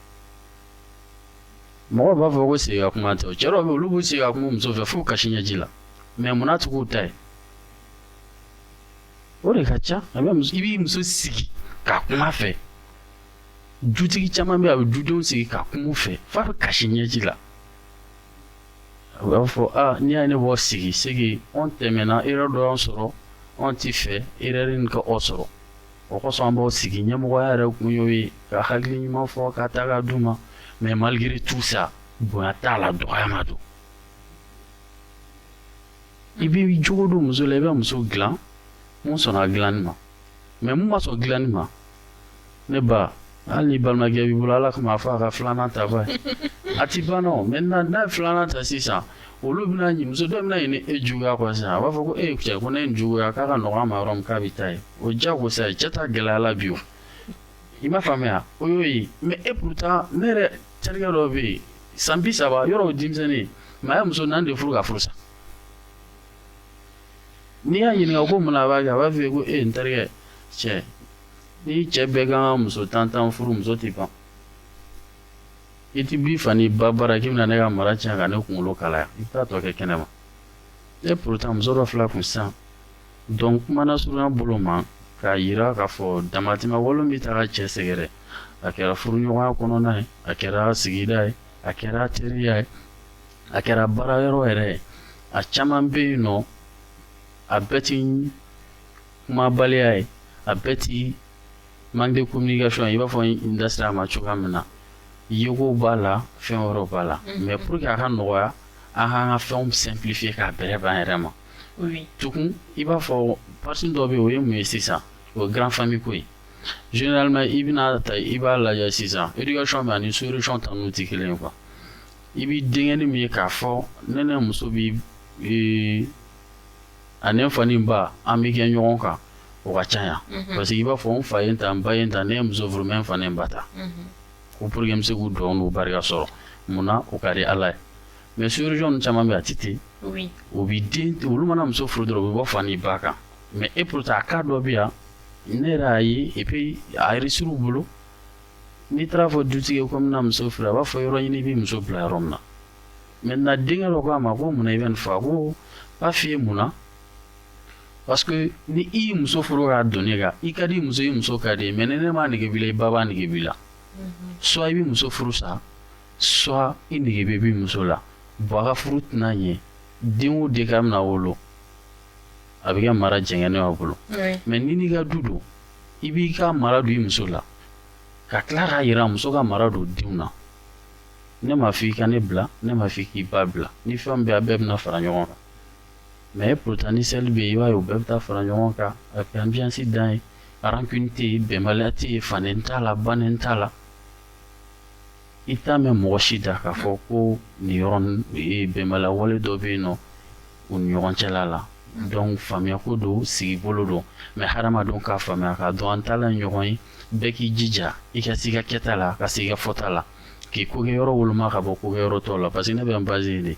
mɔgɔw b'a fɔ ko sigi ka kuma tɛ cɛ dɔw bɛ olu b'u sigi ka kuma muso fɛ fo kasi ɲɛji la mais munna tugu ta ye o de ka ca i b'i muso sigi ka kuma a fɛ dutigi caman bɛ a bɛ dudenw sigi ka kuma u fɛ f'a bɛ kasi ɲɛji la a b'a fɔ aa n'i y'a ye ne b'aw sigi sigi an tɛmɛna erreur dɔ y'an sɔrɔ an tɛ fɛ erreur in ka aw sɔrɔ o kosɔn an b'aw sigi ɲɛmɔgɔya yɛrɛ kun y'o ye ka hakili ɲuman fɔ k'a ta k'a d'u ma mais malgré tout ça bonya t'a la dɔgɔyama don i bɛ jogo don muso la i bɛ muso dilan mun sɔnna dilanni ma mais mun ma sɔn dilanni ma ne ba hali ni balimakɛ b'i bolo ala kama a fɔ a ka filanan ta ba a ti ban nɔ maintenant n'a ye filanan ta sisan olu bɛna ɲi muso dɔ bɛna ɲini e juguya kɔ sisan a b'a fɔ ko e cɛ ko ne ye juguya k'a ka nɔgɔ a ma yɔrɔ min k'a bɛ taa yen o diyagosa ye cɛ ta gɛlɛyala bi o i m'a faamuya o y'o ye mais et pourtant ne yɛrɛ terikɛ dɔ bɛ yen san bi saba yɔrɔ o denmisɛnnin mais a ye muso naani de furu ka furu sa n'i y'a ɲininka ko mun na a b'a kɛ a b'a fɔ ko e n terikɛ cɛ ni cɛ bɛɛ kan ka muso tan tan furu muso tɛ ban i ti b'i fa n'i ba bara k'i bɛna ne ka mara tiɲɛ ka ne kunkolo kalaya i bɛ taa tɔ kɛ kɛnɛ ma et pourtant muso dɔ fil'a kun sisan Donc kuma nasurunya bolo ma k'a yira k'a fɔ damatɛmɛ wale bɛ taga cɛ sɛgɛrɛ a kɛra furuɲɔgɔnya kɔnɔna ye a kɛra sigida ye a kɛra teriya ye a kɛra baara yɔrɔ yɛrɛ ye a caman bɛ yen nɔ a bɛɛ ti kumabaliya ye a bɛɛ ti manque de communication i b'a fɔ n da sera a ma cogoya min na yeko b'a la fɛn wɛrɛw b'a la mais pour que a ka nɔgɔya an k'an ka fɛnw simplifier ka bɛrɛ b'an yɛrɛ ma tugun i b'a fɔ partie dɔ bɛ yen o ye mun ye sisan o ye grand famille ko ye généralement i bɛna taa i b'a lajɛ sisan éducation bɛ ani sous-région ta n'u tɛ kelen ye quoi i bɛ denkɛni min ye k'a fɔ ne ni muso bi ee ani n fa ni n ba an bɛ kɛ ɲɔgɔn kan o ka ca yan mhm. parce que i b'a fɔ n fa ye n ta n ba ye n ta ne ye muso furu mais n fa ni n ba ta mhm. ko pour que n bɛ se k'u dugawu n'u barika sɔrɔ mun na o ka di ala ye mais sous-région caman bɛ yen a tɛ ten o bɛ den olu mana muso furu dɔrɔn u bɛ bɔ fa ni ba kan mais et pourtant a cas dɔ bɛ yan ne yɛrɛ y'a ye et puis a réussir u bolo n'i taara fɔ dutigi ye ko n bɛna muso furu a b'a fɔ yɔrɔ ɲini i bɛ muso bila yɔrɔ min na maintenant denkɛ dɔ ko a ma ko mun na i bɛ nin fɔ ko n b'a f'i ye mun na parce que ni i ye muso furu k'a don ne kan i ka di muso i muso ka di mais ni ne m'a nege b'i la i ba b'a nege b'i la soit i bɛ muso furu sa soit i nege bɛ b'i muso la bon a ka furu tɛna ɲɛ den o den k'a bɛna wolo a bɛ kɛ mara jɛngɛnen y'a bolo mais ni n'i ka du don i b'i ka mara don i muso la ka tila k'a yira muso ka mara don denw na ne m'a fɔ i ka ne bila ne m'a fɔ k'i ba bila ni fɛn bɛ a bɛɛ bɛna fara ɲɔgɔn kan mais pourtant ni seli bɛ yen i b'a ye u bɛɛ bɛ taa fara ɲɔgɔn kan a bɛ ambiance dan ye rancune tɛ yen bɛnbaliya tɛ yen faden t'a la baden t'a la i t'a mɛn mɔgɔ si da k'a fɔ ko nin yɔrɔ bɛnbaliya wale dɔ bɛ yen nɔ u ni ɲɔgɔn cɛla la donc faamuya ko don sigi bolo don mais hadamadenw k'a faamuya k'a dɔn an taala ɲɔgɔn ye bɛɛ k'i jija i ka se i ka kɛta la ka se i ka fɔta la k'i ko kɛ yɔrɔ woloma ka bɔ ko kɛ yɔrɔ tɔw la parce que ne bɛ n baser nin de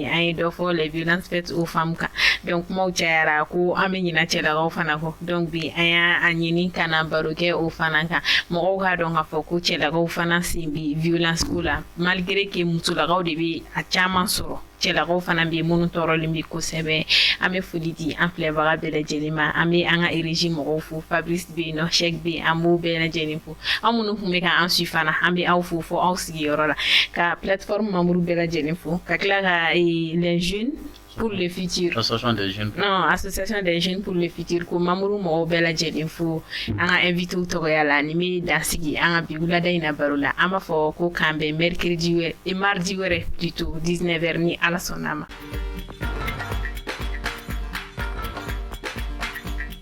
an ye dɔ fɔ les violences faites aux femmes kan donc kumaw cayara ko an bɛ ɲina cɛlakaw fana kɔ donc bi an y'a ɲini ka na baro kɛ o fana kan mɔgɔw k'a dɔn k'a fɔ ko cɛlakaw fana sen bi violence ko la malgré que musolakaw de bɛ a caman sɔrɔ cɛlakaw fana bɛ yen minnu tɔɔrɔlen bɛ kosɛbɛ an bɛ foli di an filɛbaga bɛɛ lajɛlen ma an bɛ an ka régie mɔgɔw fo fabrice bɛ yen nɔ cheick bɛ yen an b'o bɛɛ lajɛlen fo aw minnu tun bɛ k'an suivre fana an bɛ aw fo fo aw sigiyɔrɔ la ka plateforme membre bɛɛ lajɛlen fo ka tila ka les jeunes pour le futur non association des jeunes pour le futur ko membre mɔgɔw bɛɛ lajɛlen fo an ka invité tɔgɔya la nin bɛ dansigi an ka bi wulada in na baro la an b'a fɔ ko k'an bɛn mercredi wɛrɛ et mardi wɛrɛ plutôt 19 heures ni ala sɔnna a ma